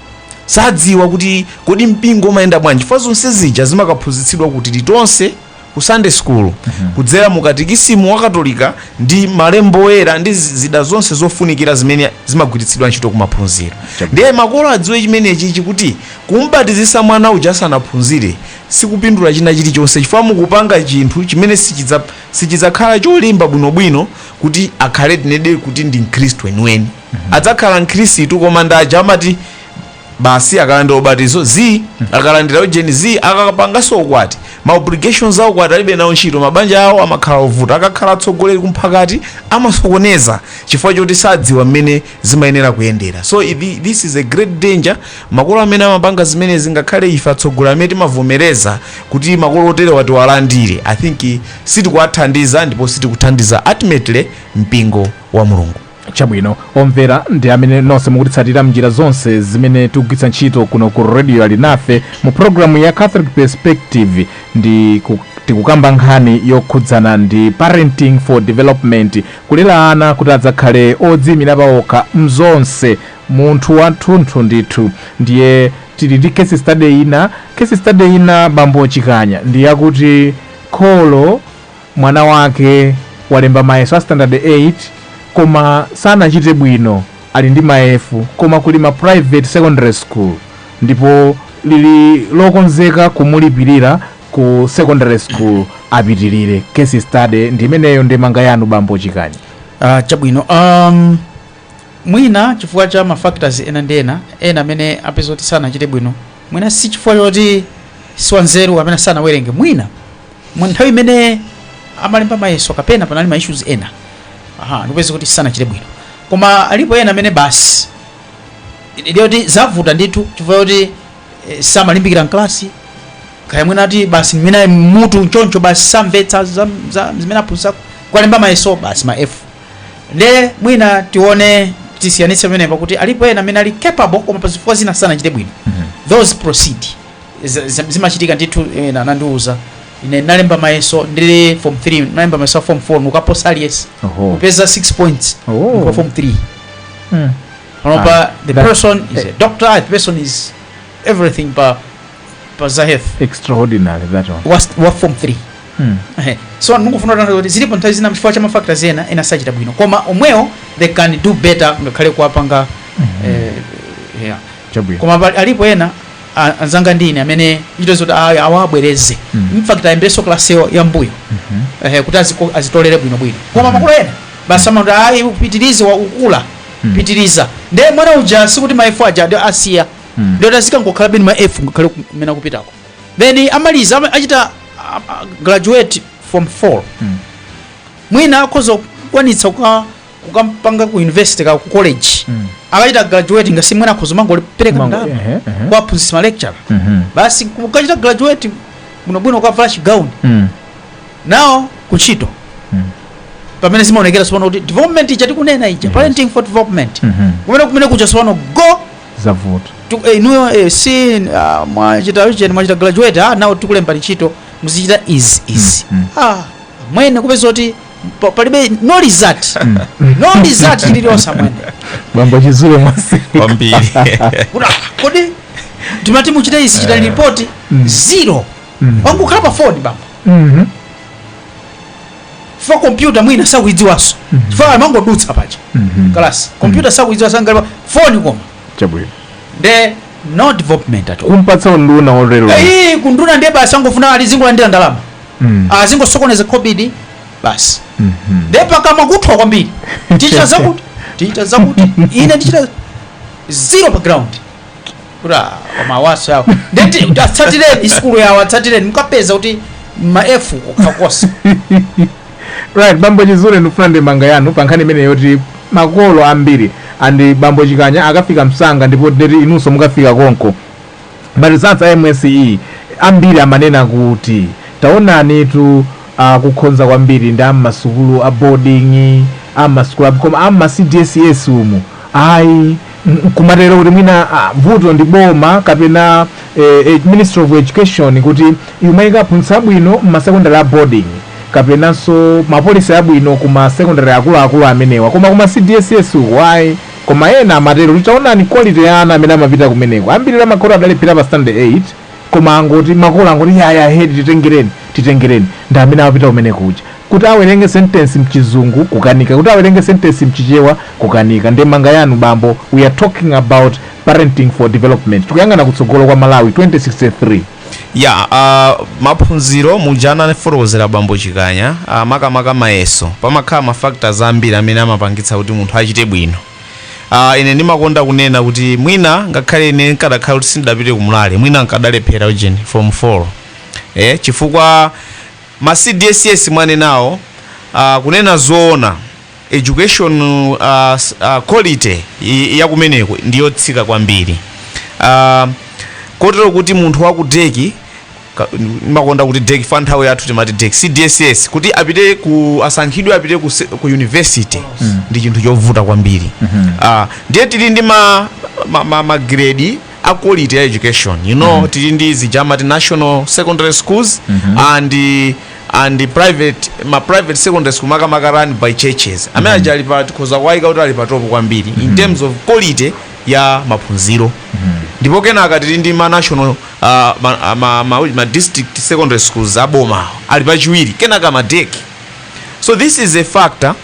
sadziwa kuti kodi mpingo umayenda bwanji chifukwa zonse zija zimakaphunzitsidwa ku Tilitonse, ku Sunday school, kudzera mu katikisimu wa Katolika ndi malembo oyera ndi zi- zida zonse zofunikira zimene zimagwiritsidwa ntchito kumaphunziro. Chabwino. Ndiye makolo adziwe chimenechi chakuti kumbatizisa mwana uja asanaphunzire sikupindula china chilichonse chifukwa mukupanga chinthu chimene sichidza- Sichidzakhala cholimba bwinobwino kuti akhale tinenedi kuti ndi mkhristu weniweni. Adzakhala mkhristu koma ndi aja amati basi akalandira ubatizo zii, akalandira ujeni zii, akapanganso ukwati, ma obligations a ukwati alibe nawo ntchito, mabanja awo amakhala ovuta, akakhala atsogoleri kumphakati amasokoneza chifukwa choti sadziwa mmene zimayenera kuyendera so i- thi- this is a great danger makolo amene amapanga zimenezi ngakhale ife atsogoleri amene timavomereza kuti makolo oterewa tiwalandire i think eh, sitikuwathandiza ndipo sitikuthandiza ultimately mpingo wa mulungu chabwino omvera ndi amene nonse mukutitsatira mnjira zonse zimene tikugwiritsa ntchito kuno ku Radio Alinafe mu programu ya catholic perspective ndi ku- tikukamba nkhani yokhudzana ndi parenting for development Kulera ana kuti adzakhale odziimira paokha m'zonse, munthu wathunthu ndithu. Ndiye tili ndi case study ina, case study ina bambo Chikanya ndi yakuti kholo mwana wake walemba mayeso a standard 8 koma sanachite bwino ali ndi ma F koma kuli ma private secondary school ndipo lili lokonzeka kumulipilira ku secondary school apitirire case study ndi imeneyo ndemanga yanu bambo Chikanya Ah, chabwino um, mwina chifukwa cha mafactors ena ndi ena ena amene apeza kuti sanachite bwino mwina si chifukwa choti siwanzeru amene sanawerenge mwina nthawi imene amalemba mayeso kapena panali ma issues ena aha ndikupeza kuti sanachite bwino koma alipo ena amene basi ndiye kuti zavuta ndithu chifukwa choti eh, samalimbikira mklasi kaya mwina ati basi mwina mutu choncho basi samvetsa za- za- zimene aphunzitsa kwalemba mayeso basi ma f nde mwina tione tisiyanitse pamenepa kuti alipo ena amene ali capable koma pazifukwa zina sanachite bwino those proceed Z- z- zimachitika ndithu ena anandiuza ine nalemba mayeso ndili form 3 nalemba mayeso a form 4 nkuwaposa aliyense Oho. nkupeza 6 points Oh. kwa form 3 Mm. panopa the that- person is a doctor the person is everything pa pa za health extraordinary that one was wa form 3 Hmm. Ehe. so ndikufuna kutanthauza kuti zilipo nthawi zina chifukwa cha mafactors ena ena sanachita bwino koma omwewo they can do better ngakhale kuwapanga eh, yeah. chabwino koma pali- alipo ena a- anzanga ndi ine amene ntchito zoti awa- awabwereze Mm. in fact ayambenso kalasi yo- yam'mbuyo Mhm. ehe, kuti aziko- azitolere bwinobwino koma makolo ena basi amati ayi upitirize wa ukukula mm. pitiriza nde mwana uja sikuti ma f aja adi asiya mm. ndiye kuti azikangokhalabe ndi ma f ngakhale kumene akupitako then amaliza ama- achita ah, ah, graduate form 4 Mm. mwina akhoza kukwanitsa kuka- kukampanga ku university ka ku college Mm. akachita graduate nanga si mwina akhoza kumangopereka Mango- ndalama ehe, ehe. kwa aphunzitsi ma lecturer Mhm. basi akachita graduate bwinobwino akavala chigauni Mm. now kuntchito Mm. pamene zimaonekera tsopano kuti development ija tikunena ija Yes. parenting for development Mhm. kumene kumene kuja tsopano kuti zavuta tu- eh, inuyo eh, si ah, mwachita cheni mwachita graduate ah, now tikulembani ntchito muzichita izi izi Mm, ah, mwene kupeza kuti pa- palibe no result no result chilichonse mwene bambo chizule mwasi kwambiri Kuda- kodi timati muchita izi chitani ripoti zero mm. wangokhala pa foni bambo mm -hmm. fa kompyuta mwina sakuidziwanso mm -hmm. fa amangodutsa paja mm -hmm. kalasi kompyuta mm -hmm. sakuidziwa sangalipa foni koma chabwino nde no development at all kumpatsa unduna orero eh kunduna ndiye basi angofuna azingolandira ndalama mm. azingosokoneza khobidi basi mm -hmm. nde pakamwa kuthwa kwambiri tichita zakuti tichita zakuti ine ndichita zero pa ground kuti ah, koma awasi awo ndeti atsatireni sukulu yawo atsatireni mukapeza kuti ma f okhakosa right bambo chizule ndikufuna ndemanga yanu pa nkhani imeneyo yoti makolo ambiri andi bambo chikanya akafika msanga ndipo ndeti inunso mukafika konko maresults a msce ambiri amanena kuti taonanitu akukhonza kwambiri ndi ammasukulu a boarding ammasukulu a- koma amma cdss umu ayi nkumatero kuti mwina ah, vuto ndi boma kapena eh, eh, ministry of education kuti imayika aphunzitsi abwino mmasekondary a boarding kapenanso mapolisi abwino ku masekondary akuluakulu amenewa koma kuma cdss uko ayi koma ena amatero kuti taonani quality ya ana amene amapita kumeneko ambiri amakhoti adalephera pa standard 8 koma angoti makolo angoti yaya ahead titengereni titengereni ndi amene amapita kumene kuja kuti awerenge sentence mchizungu kukanika kuti awerenge sentence mchichewa kukanika ndemanga yanu bambo we are talking about parenting for development tikuyang'ana kutsogolo kwa malawi 2063 ya uh, maphunziro muja anafotokozera bambo chikanya uh, makamaka mayeso pamakhala mafactors ambiri amene amapangitsa kuti munthu achite bwino Ah, ine ndimakonda kunena kuti mwina ngakhale ine nkadakhala kuti sindidapite kumulale mwina nkadalephera ujeni form 4 eh, chifukwa ma cdss mwanenawo ah, kunena zoona education ah, s- ah, quality i- ya kumeneko ndiyotsika kwambiri ah, kotero kuti munthu waku dec ka- ndimakonda kuti dec chifukwa nthawi yathu timati dec cdss kuti apite ku asankhidwe apite ku, se- ku university ndi chinthu chovuta kwambiri Ah, ndiye tili ndi ma, ma, ma, ma grade a quality ya education you know tili ndi zija amati national secondary schools and and private ma private secondary school makamaka run by churches amene aja ali pa tikhoza kuwayika kuti ali pa top kwambiri in terms of quality ya maphunziro ndipo kenaka tili ndi ma national ma, ma, ma, ma district secondary schools aboma ali pachiwiri kenaka ma dec so this is a factor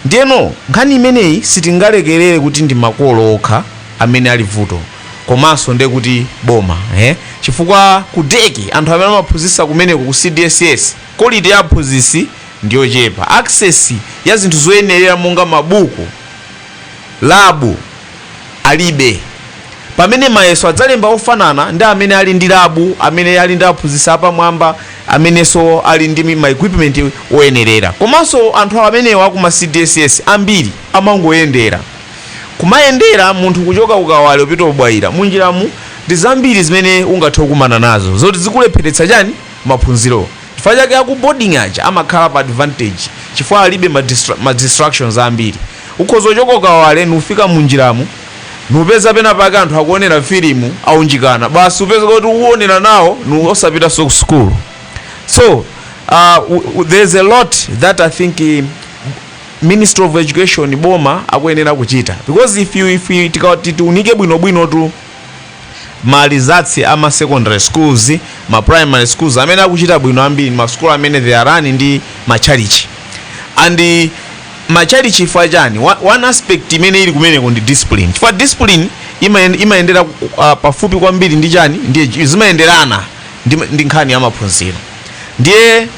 ndiyeno nkhani imeneyi sitingalekerere kuti ndi makolo okha amene ali vuto komanso nde kuti boma eh? chifukwa ku dec anthu amene amaphunzitsa kumeneko ku cdss quality ya aphunzitsi ndiyochepa access ya zinthu zoyenerera monga mabuku Labu alibe. Pamene mayeso adzalemba ofanana ndi amene ali ndi labu amene ali ndi aphunzitsi apamwamba amenenso ali ndi ma equipment oyenerera. Komanso anthu amenewa aku ma cdss ambiri amangoyendera. Kumayendera munthu kuchoka ku Kawale kupita ku Bwaila munjiramu ndi zambiri zimene ungathe kukumana nazo zoti zikulepheretsa chani? Maphunziro. Chifukwa chake aku boarding aja amakhala pa advantage chifukwa alibe ma distractions ambiri. Ukhoza kuchoka ku Kawale nufika munjiramu nupeza pena pake anthu akuonera filimu aunjikana basi upeza kuti uonera nawo nu osapitanso ku school so uh, w- w- there's a lot that i think eh, ministry of education boma akuyenera kuchita because if you if you tikati tiunike bwinobwino tu ma results a ma secondary schools, ama primary schools amene akuchita bwino ambiri ndi ma school amene they are run ndi ma church and eh, ma church chifukwa chani Wa- one aspect imene ili kumeneko ndi discipline chifukwa discipline imayen- imayendera uh, pafupi kwambiri ndi chani ndi edu- zimayenderana ndi, ndi nkhani ya maphunziro ndiye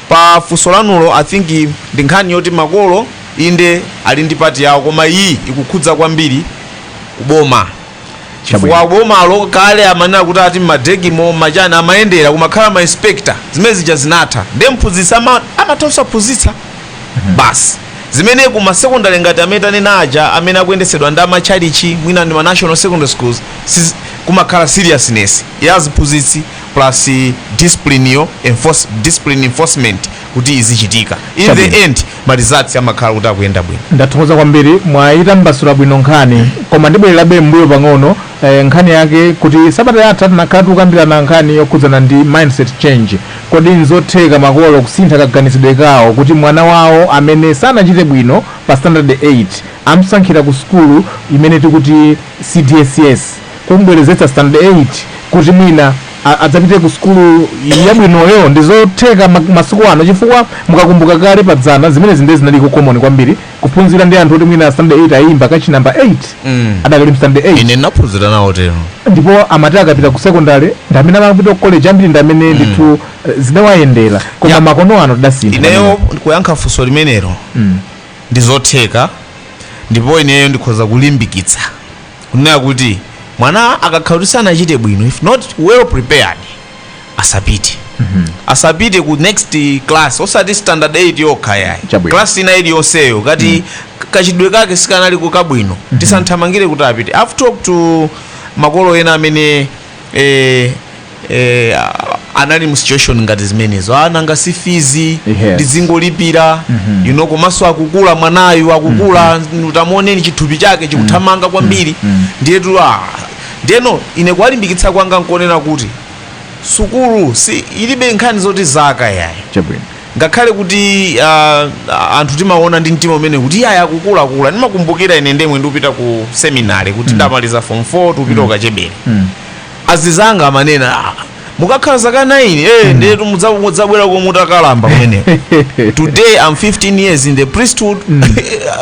pa funso lanulo i think i- ndi nkhani yoti makolo inde ali ndi pati yawo koma iyi ikukhudza kwambiri kuboma chifukwa Chabwino. bomalo kale amanena kuti ati mmadegimo machani amayendera kumakhala ma inspector zimene zija zinatha nde mphunzitsi ama- amatha kusaphunzitsa basi zimene ku masekondari ngati amene tanena aja amene akuyendetsedwa ndi amatchalitchi mwina ndi ma national secondary schools siz- kumakhala seriousness ya ziphunzitsi plus discipline yo enforce, discipline enforcement kuti izichitika in Chabwino. the end ma results amakhala kuti akuyenda bwino. Ndathokoza kwambiri, mwayitambasula bwino nkhani. Koma ndibwererabe m'mbuyo pang'ono, eh nkhani yake kuti sabata yatha tinakhala tikukambirana nkhani yokhudzana ndi mindset change. Kodi nzotheka makolo kusintha kaganizidwe kawo kuti mwana wawo amene sanachite bwino pa standard 8 amsankhira ku sukulu imene tikuti cdss? kumubwerezetsa standard 8 kuti mwina adzapite ku sukulu yabwinoyo ndi zotheka masiku ano chifukwa mukakumbuka kale padzana zimenezi ndiye zinaliko common kwambiri kuphunzira ndi anthu oti mwina standard 8 ayimba kachi number 8 mm. adakali mstandard 8 ine ndinaphunzira nawo tero ndipo amati akapita ku secondary ndi amene amapita ku college ambiri ndimene mm. ndithu mm. zidawayendera koma yeah. makono ano tidasintha ineyo kuyankha funso limenelo mm. ndi zotheka ndipo ineyo ndikhoza kulimbikitsa kunena kuti mwana akakhala kuti sanachite bwino if not well prepared asapite asapite ku next class osati standard 8 yokha yayi Chabwino. class ina iliyonseyo ngati kakhozedwe kake sikanali kabwino tisathamangire kuti apite i've talked to makolo ena amene ena amene anali mu situation ngati zimenezo ananga si fizi ndizingolipira you know komanso akukula mwanayu akukula utamuoneni chithupi chake chikuthamanga kwambiri ndiyetu ah, ndeno ine kuwalimbikitsa kwanga nkonena kuti sukulu si ilibe nkhani zoti zaka yayi chabwino Ngakhale kuti a, anthu timaona ndi mtima umene kuti yayi akukula akula. Ndimakumbukira ine mmene ndikupita ku seminary kuti mm. ndamaliza form 4 tikupita mm. ukachebere. Mm. Azizanga amanena ah, mukakhala zaka 9 eh mm. ndiye mudzabwerako mutakalamba kumene. Today I'm 15 years in the priesthood. Mm.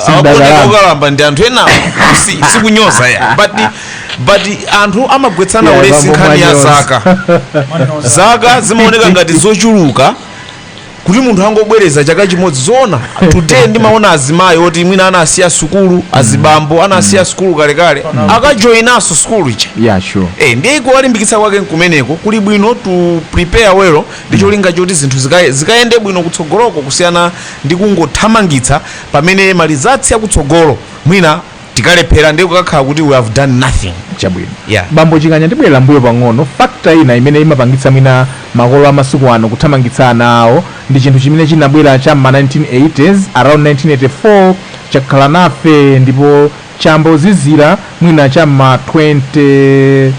Akuoneka ukalamba ndi anthu ena si, sikunyoza ya. But but anthu amagwetsana yeah, ulesi nkhani ya zaka. zaka zimaoneka ngati zochuluka. kuti munthu angobwereza chaka chimodzi zoona today ndimaona azimayi oti mwina anasiya sukulu azibambo anasiya sukulu kalekale akajoyinaso sukulu icha yeah sure Eh, ndiye kuwalimbikitsa kwake nkumeneko kuli bwino to prepare well ndi cholinga choti zinthu zika- zikayende bwino kutsogoloko kusiyana ndi kungothamangitsa pamene malizatsi akutsogolo mwina tikalephera ndiye kukakhala kuti we have done nothing chabwino Yeah. bambo chikanya ndibwera mbuyo pang'ono fakta ina imene imapangitsa mwina makolo amasiku ano kuthamangitsa ana awo ndi chinthu chimene chinabwera cha ma 1980s around 1984 chakhala nafe ndipo chayamba kuzizira mwina cha ma 20 eh,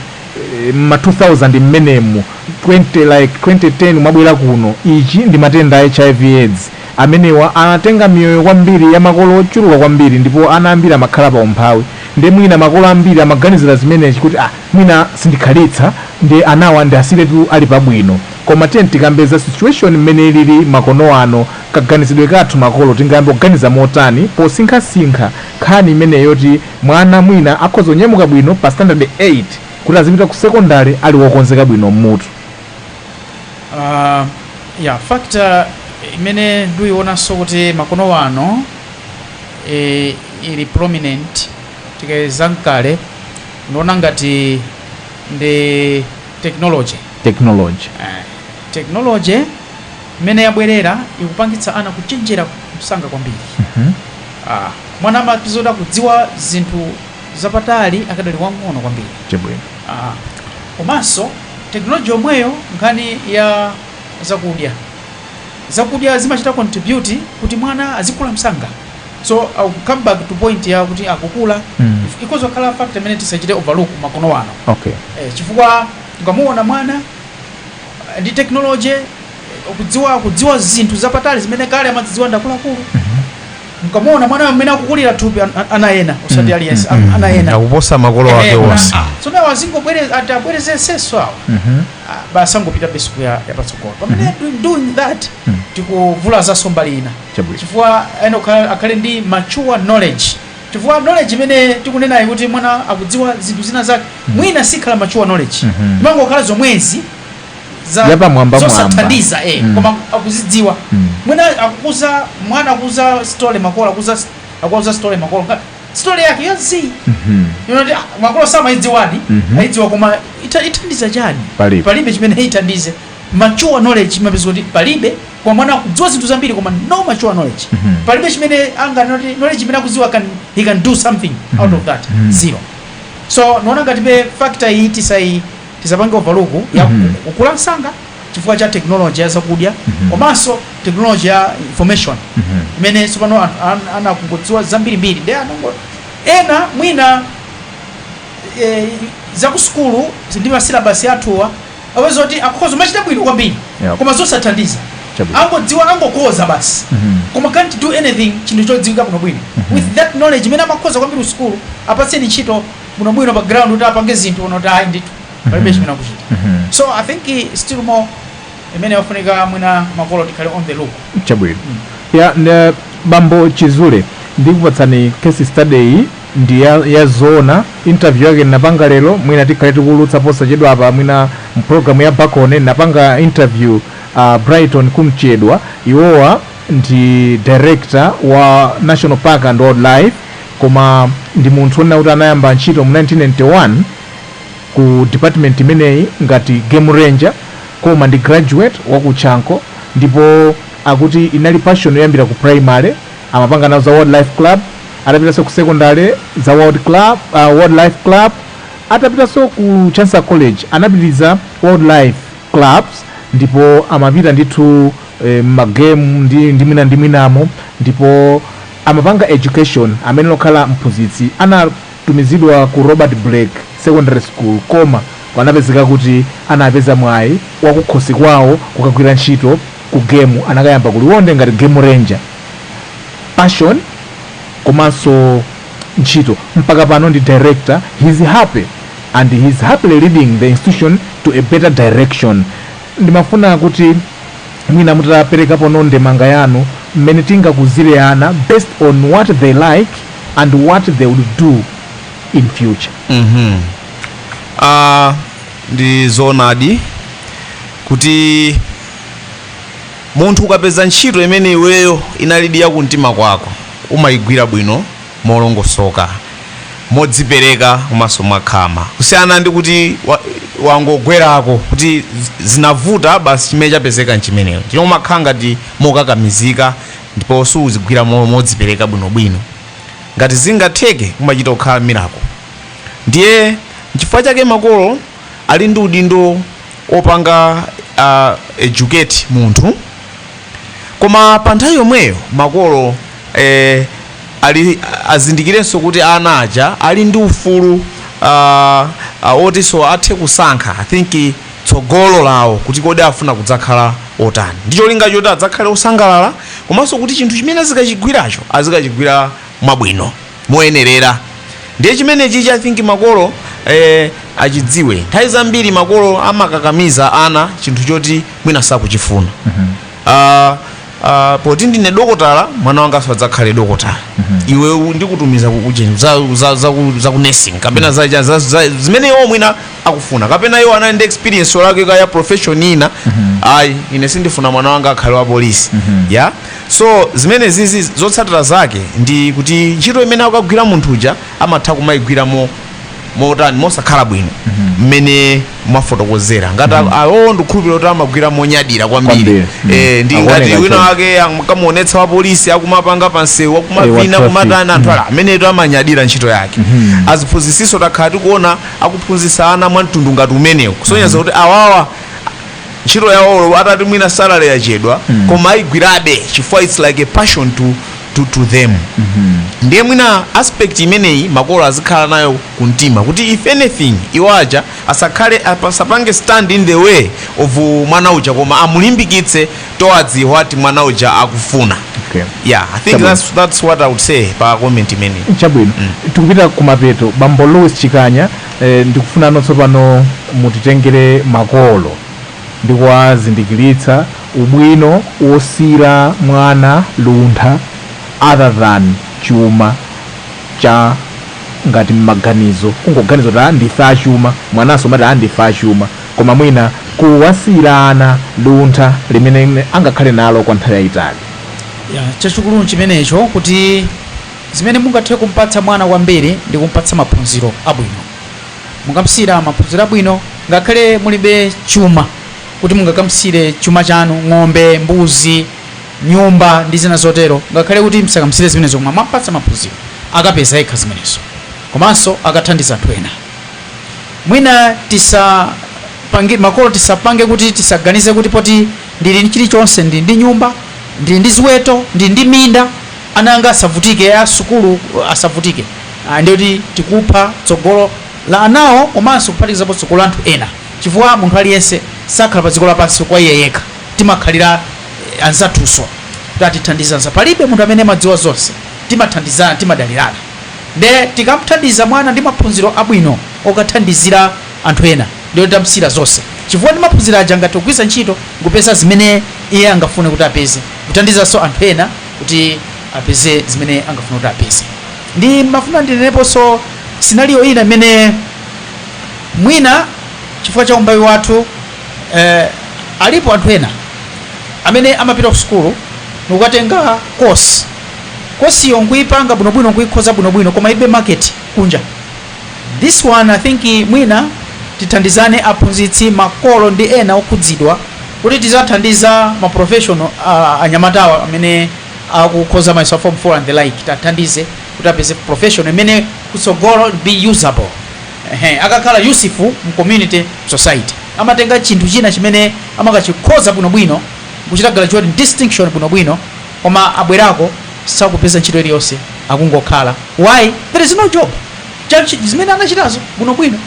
ma 2000 mmenemu 20 like 2010 kumabwera kuno ichi ndi matenda a hiv aids Amenewa anatenga miyoyo kwambiri ya makolo ochuluka kwambiri ndipo ana ambiri amakhala pa umphawi nde mwina makolo ambiri amaganizila zimenezi kuti ah mwina sindikhalitsa nde anawa ndiwasiyiretu ali pa bwino koma tiyeni tikambe za situation mmene ilili makono ano kaganizidwe kathu makolo tingayambe kuganiza motani posinkhasinkha nkhani imenei yoti mwana mwina akhoza kunyamuka bwino pa standard 8 kuti azipita ku secondary ali wokonzeka bwino mmutu. uh, ya factor imene ndiyionanso kuti makono wano e, ili prominent tikayeza ndi kale ndiona ngati ndi technology technology eh, technology imene yabwerayi ikupangitsa ana kuchenjera msanga kwambiri mm -hmm. ah, mwana amapezeka akudziwa zinthu zapatali akadali wang'ono kwambiri ah, komanso Technology yomweyo nkhani ya zakudya zakudya zimachita contribute kuti mwana azikula msanga so I'll come back to point ya kuti akukula mm. ikhoza kukhala factor imene tisachite overlook makono ano okay. eh, chifukwa ukamuona mwana eh, ndi technology eh, kudziwa kudziwa zinthu zapatali zimene kale amazidziwa ndi akuluakulu mm -hmm. mukamuona mwana mmene akukulira thupi an- an- ana ena osati aliyense am- ana ena akuposa makolo ake Eh, onse ah, ah. so now ati abwerezenso awo Mhm. Ah, basi angopita basic ya yapatsogolo pamene do- doing that tikuvulazanso mbali ina Chabwino. chifukwa ena kukhala- akhale ndi mature knowledge chifukwa knowledge imene tikunenayi kuti mwana akudziwa zinthu zina zake mwina siikhala mature knowledge imangokhala zomwezi za Yapamwambamwamba. zosathandiza eh, Mm. koma akuzidziwa Mm. mwina akuuza mwana akuuza story makolo akuuza akuuza story makolo ngati story yake yonse Mhm. n'kuti ah, makolo samaidziwadi Mhm. aidziwa koma ita- ithandiza chani Palibe. palibe chimene ithandize mature knowledge mupeza kuti palibe koma mwana akudziwa zinthu zambiri koma no mature knowledge Mhm. palibe chimene anga n'kuti knowledge imene akudziwa can he can do something out of that Mhm. zero so ndaona ngati be factor iyi tisayi tisapange overlook ya mm -hmm. kukula msanga chifukwa cha technology ya zakudya mm -hmm. komanso technology ya information mm -hmm. imene tsopano an, an, ana akungodziwa zambirimbiri nde anango ena mwina e, za ku sukulu ndi masilabasi athuwa mupeza kuti akhoza kumachita bwino kwambiri Yep. koma zosathandiza Chabwino. angodziwa angokhoza basi Mhm. koma can't do anything chinthu chodziwika bwinobwino with that knowledge imene amakhoza kwambiri kusukulu apatseni ntchito bwino bwino pa ground kuti apange zinthu muona kuti ayi ndithu palibe chimene akuchita Mhm. so i think eh, still more imene ikufunika mwina makolo tikhale on the look chabwino ya ne, bambo chizule ndikupatsani case study iyi ndi ya, ya zoona interview yake ndinapanga lero mwina tikhale tikuwulutsa posachedwa apa mwina mpulogalamu ya pa khonde ndinapanga interview uh, brighton Kumchedwa iwowa ndi director wa national park and wildlife Koma ndi munthu onena kuti anayamba ntchito mu 1991 ku department imeneyi ngati game ranger koma ndi graduate wa ku Chanco ndipo akuti inali passion yoyambira ku primary amapanga nawo za wildlife club atapitanso ku secondary za world club wildlife club atapitanso ku Chancellor College anapitiliza wildlife clubs ndipo amapita ndithu m'ma game ndi mwina ndi mwinamo ndipo Amapanga education ameneyo n'kukhala mphunzitsi anatumizidwa ku Robert Blake secondary school koma anapezeka kuti anapeza mwayi wakukhosi kwawo kukagwira ntchito ku game anakayamba ku Liwonde ngati game ranger passion komanso ntchito mpaka pano ndi director he's happy and he's happily leading the institution to a better direction ndimafuna kuti mwina mutaperekaponso ndemanga yanu mmene tingakuzile ana based on what they like and what they would do in future Ah, ndi zoonadi kuti munthu ukapeza ntchito imene iweyo inalidi ya kumtima kwako umayigwira bwino molongosoka, modzipereka komanso mwakhama kusiyana ndi kuti wangogwerako kuti zinavuta basi chimene chapezeka nchimenecho chino umakhala ngati mokakamizika ndipo suzigwira modzipereka bwinobwino ngati zingatheke umachita kukhala miracle ndiye nchifukwa chake makolo ali ndi udindo opanga educate munthu koma pa nthawi yomweyo makolo eh, ali azindikirenso kuti ana aja ali ndi ufulu uh, uh, otinso athe kusankha i think tsogolo lawo kuti kodi afuna kudzakhala otani ndi cholinga choti adzakhale osangalala komanso kuti chinthu chimene azikachigwiracho azikachigwira mwabwino moyenerera ndiye chimenechichi i think makolo eh, achidziwe nthawi zambiri makolo amakakamiza ana chinthu choti mwina sakuchifuna Ah, ah, poti ndine dokotala mwana wanga adzakhale dokotala iwe u- ndikutumiza ku- ujeni za, za, za, ku- za ku nursing kapena za, za, za, za, zimene iwo mwina akufuna kapena iwo anali ndi experience yolakwika ya profession ina ayi ine sindifuna mwana wanga akhale wa polisi ya So zimenezizi zotsatira zake ndi kuti ntchito imene akukagwira munthu uja amatha kumayigwira mo motani mosakhala bwino mmene mwafotokozera ngati mm awo ndikukhulupirira kuti amagwira monyadira kwambiri Kwambiri, mm. eh, ndi Akuoneka ngati wina choncho. wake akamuonetsa wapolisi akumapanga pansewu akumavina traffic. akumatani anthu aja amenetu amanyadira ntchito yake aziphunzitsinso takhala tikuona akuphunzitsa ana mwa mtundu ngati umenewu kusonyeza kuti awawa ntchito yawo olo atati mwina salary yachedwa koma ayigwirabe chifukwa its like a passion to, to, to them ndiye mwina aspect imeneyi makolo azikhala nayo ku mtima kuti if anything iwo aja asakhale apa- asapange stand in the way of uh, mwana uja koma amulimbikitse towards what mwana uja akufuna Okay. yeah i think Chabwino. that's, that's what i would say pa comment imeneyi chabwino tikupita kumapeto bambo louis chikanya Ndikufuna no tsopano mutitengere makolo ndi kuwazindikilitsa ubwino wosiira mwana luntha other than chuma cha ngati mmaganizo kungoganiza kuti ah ndife achuma mwananso amati ah ndife achuma koma mwina kuwasiira ana luntha limene angakhale nalo kwa nthawi yayitali. Ya, chachukulu n'chimenecho kuti. Zimene mungathe kumpatsa mwana kwambiri ndi kumpatsa maphunziro abwino. Mukamsiyira maphunziro abwino ngakhale mulibe chuma choti mungakamsiyire chuma chanu, ng'ombe, mbuzi, nyumba ndi zina zotero, ngakhale kuti msakamsiyire zimenezo koma mwampatsa maphunziro, akapeza yekha zimenezo komanso akathandiza anthu ena. Mwina tisa- makolo tisapange kuti tisaganize kuti poti ndili ndi chilichonse, ndili ndi nyumba, ndili ndi ziweto, ndili ndi minda, ana anga asavutike nazo sukulu asavutike ndiye kuti tikupha tsogolo la anawo komanso kuphatikizapo tsogolo la anthu ena chifukwa munthu aliyense sakhala pa dziko lapansi kwa iye yekha timakhalira anzathunso kuti tithandizane palibe munthu amene amadziwa zonse timathandizana timadalirana nde tikamthandiza mwana ndi maphunziro abwino wokathandizira anthu ena ndiye tamsira zonse chifukwa ndi maphunziro aja angathe kugwiritsa ntchito kupeza zimene iye angafune kuti apeze kuthandizanso anthu ena kuti apeze zimene angafune kuti apeze ndimafuna ndineneponso scenario ina imene mwina chifukwa cha umphawi wathu eh, alipo anthu ena amene amapita ku sukulu nkukatenga kosi kosiyo nkuipanga bwinobwino nkuikhoza bwinobwino koma ilibe market kunja This one I think mwina tithandizane aphunzitsi, makolo ndi ena okhudzidwa kuti tiziwathandiza ma professional anyamatawa amene akukhoza mayeso a form 4 and the like tiwathandize kuti apeze professional imene kutsogolo it'll be usable akakhala useful mu community, society. Amatenga chinthu china chimene amakachikhoza bwinobwino nkuchita graduate ndi distinction bwinobwino koma abwerako. sakupeza ntchito iliyonse akungokhala why there is no job ya zimene anachitazo bwinobwino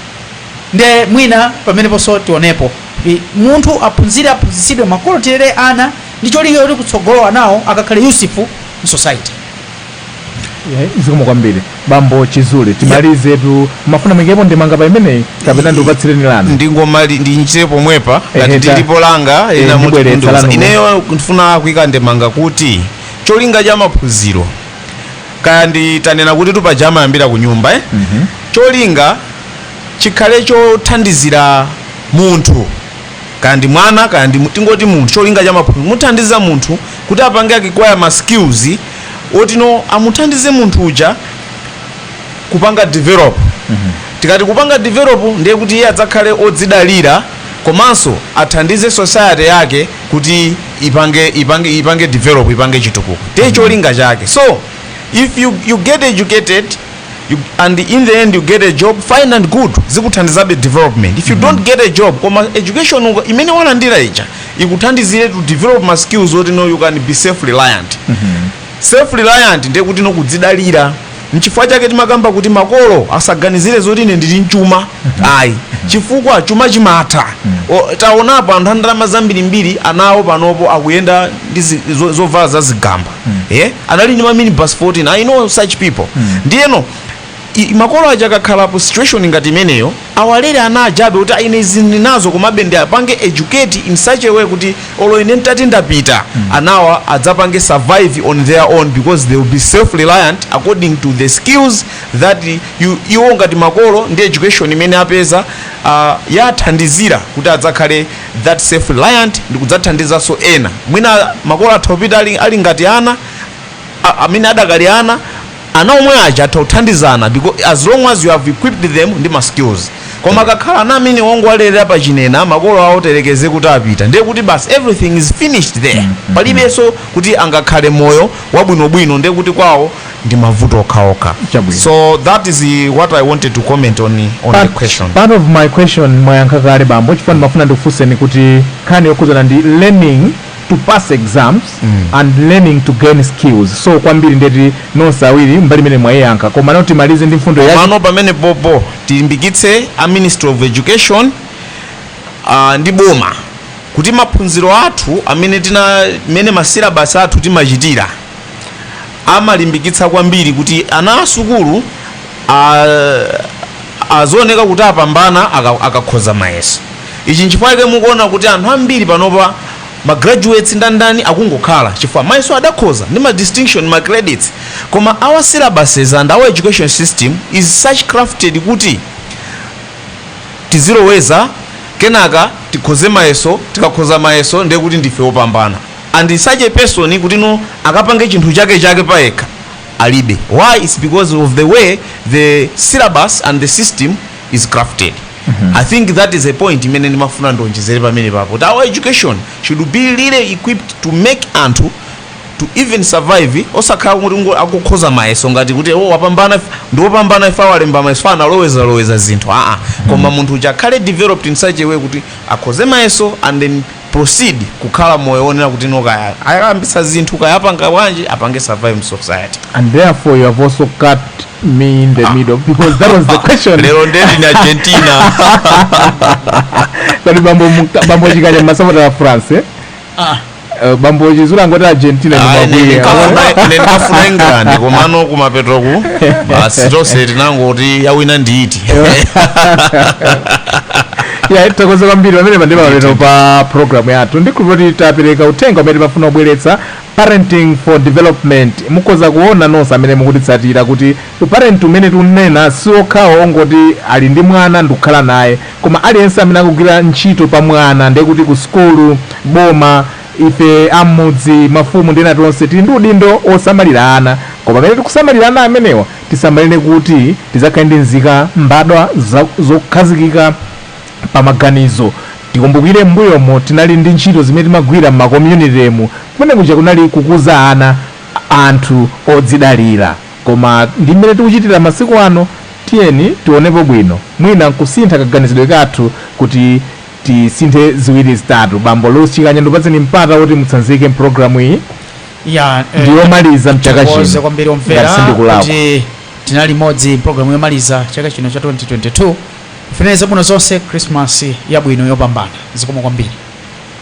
nde mwina pameneponso tionepo kuti munthu aphunzire aphunzitsidwe makolo tilere ana ndi cholinga kuti kutsogolo anawo akakhale useful mu society Eh, zikomo kwambiri bambo Chizule timalizetu mumafuna muikepo ndemanga pa imeneyi kapena ndikupatsireni lanu ndingomali- ndichite pomwepa Ehe, ngati ta- lilipo langa Eh, ina ndibweretsa mutu wanu. ineyo ndifuna kuika ndemanga kuti cholinga cha maphunziro kaya ndi tanena kuti paja amayambira ku nyumba eh? cholinga chikhale chothandizira munthu kaya ndi mwana kaya ndi mu- tingoti munthu cholinga cha maphunziro nkuthandiza munthu kuti apange acquire ma skills otino amuthandize munthu uja kupanga develop tikati kupanga develop ndiye kuti iye adzakhale odzidalira komanso athandize society yake kuti ipange ipange ipange develop ipange chitukuko ndiye mm. cholinga chake so if you, you get educated you, and in the end you get a job fine and good zikuthandizabe development if you mm -hmm. don't get a job koma education imene walandira ija ikuthandizire to develop ma skills oti no you can be self reliant mm -hmm. Self reliant ndiye kutino kudzidalira. Nchifukwa chake timakamba kuti makolo asaganizire zoti ine ndili nchuma ayi chifukwa chuma chimatha. O, Taonapo anthu a ndalama zambirimbiri ana awo panopo akuyenda ndi zi- zo- zovala za zigamba. Eh? Anali ndi ma minibus 14. I know such people. Ndiyeno makolo aja akakhala pa situation ngati imeneyo awalere ana ajabe kuti ine izi ndinazo komabe ndiapange educate in such a way kuti olo ine ntati ndapita anawa adzapange survive on their own because they will be self reliant according to the skills that you, iwo ngati makolo ndi education imene apeza uh, yathandizira kuti adzakhale that self reliant ndi kudzathandizanso ena mwina makolo atha kupita ali, ali ngati ana a- amene adakali ana Ana omwe aja atha kuthandizana because as long as you have equipped them ndi ma skills koma akakhala ana amene wangowalelela pa chinena makolo awo terekeze kuti apita ndiye kuti basi everything is finished there palibenso kuti angakhale moyo wabwinobwino ndiye kuti kwawo ndi mavuto okhaokha Chabwino. so that is uh, what i wanted to comment on, on the Part, question part of my question mwayankha kale bambo chifukwa ndimafuna ndikufunseni kuti nkhani yokhudzana ndi learning to pass exams and learning to gain skills so kwambiri ndeti nonse awiri mbali imene mwayiyankha koma ndoti timalize ndi mfundo yake mano pamene popo tilimbikitse a ministry of education uh, ndi boma kuti maphunziro athu amene tina mene masilabasi athu timachitira amalimbikitsa kwambiri kuti ana a sukulu azioneka kuti apambana akakhoza mayeso. Ichi nchifukwa chake mukuona kuti anthu ambiri panopa ma graduates ndani ndani akungokhala chifukwa mayeso adakhoza ndi ma distinction ma credits. Koma our syllabuses and our education system is such crafted kuti tiziloweza kenaka tikhoze mayeso, tikakhoza mayeso ndiye kuti ndife opambana. and such a person kuti no akapange chinthu chake chake payekha alibe why its because of the way the syllabus and the system is crafted i think that is a point imene ndimafuna ndionjezere pamene papo kuti our education should be really equipped to make anthu to even survive osakhala kuti ngo- akukhoza mayeso ngati kuti o wapambana ndiwopambana if walemba mayeso analowezaloweza zinthu aa koma munthu uja akhale developed in such a way kuti akhoze mayeso and then proceed kukhala moyo wonena kuti no kaya ayambisa zinthu kaya apanga bwanji apange survive mu society and therefore you have also cut me in the middle because that was the question lero ndeti ndi argentina kodi bambo muka- bambo chikanya masapota a france eh? Eh, bambo chizula ngoti argentina ndi Ayi, mabwana ndikafuna- ine ndikafuna england komano kumapeto ku basi tonse tinangoti yawina ndiiti ya tithokoze kwambiri pamene pandipa lero pa programu yathu ndikhulupirira kuti tapereka uthenga umene timafuna kubweretsa parenting for development mukhoza kuona nonse amene mukutitsatira kuti uparent umene tikunena si okhawo ongoti ali ndi mwana ndikukhala naye koma aliyense amene akugwira ntchito pa mwana ndiye kuti ku sukulu boma ife a m'mudzi mafumu ndi ena tonse tili ndi udindo osamalira ana koma pamene tikusamalira ana amenewa Tisamalire kuti tidzakhale ndi nzika, mbadwa zokhazikika pa maganizo. Tikumbukire m'mbuyomo tinali ndi ntchito zimene timagwira m'makomyunitemu. Kumene kuja kunali kukuza ana, anthu odzidalira. Koma ndi m'mene tikuchitira masiku ano? Tiyeni tionepo bwino, mwina nkusintha kaganizidwe kathu kuti tisinthe ziwiri zitatu. Bambo Louis Chikanya, ndikupatseni mpata woti mutsanzike m'programu iyi. ya eh, ndi yomaliza mchaka tikuwauze chino kwambiri ngati omvera sindikulakwa kuti tinali limodzi programu yomaliza chaka chino cha 2022 kufunira zabwino zonse christmas yabwino yopambana zikomo kwambiri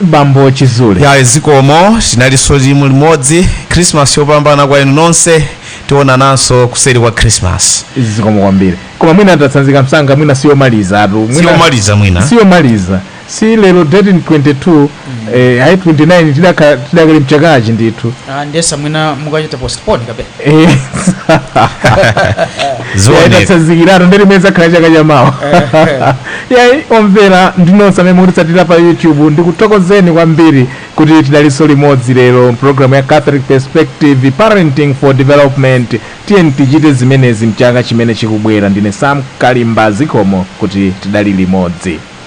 bambo chizule ya zikomo tinalinso limodzi krismas yopambana kwa inu nonse tionananso kuseri kwa krismas zikomo kwambiri koma mwina atatsanzika msanga mwina siyomalizatu Mwina- siyomaliza mwina siyomaliza si lero date ni 22 eh, ayi 29 tidakali mchakachi ndithu Ah, ndimayesa mwina mukachita postpone kapena Eh, Zioneka. yayi tatsanzikiratu nde ndi mmene zakhala chaka chamawa yayi omvera ndi nonse amene mukutitsatira pa youtube ndikuthokozeni kwambiri kuti tidalinso limodzi lero mpulogalamu ya catholic perspective parenting for development tiyeni tichite zimenezi mchaka chimene chikubwera ndine sam kalimba zikomo kuti tidali limodzi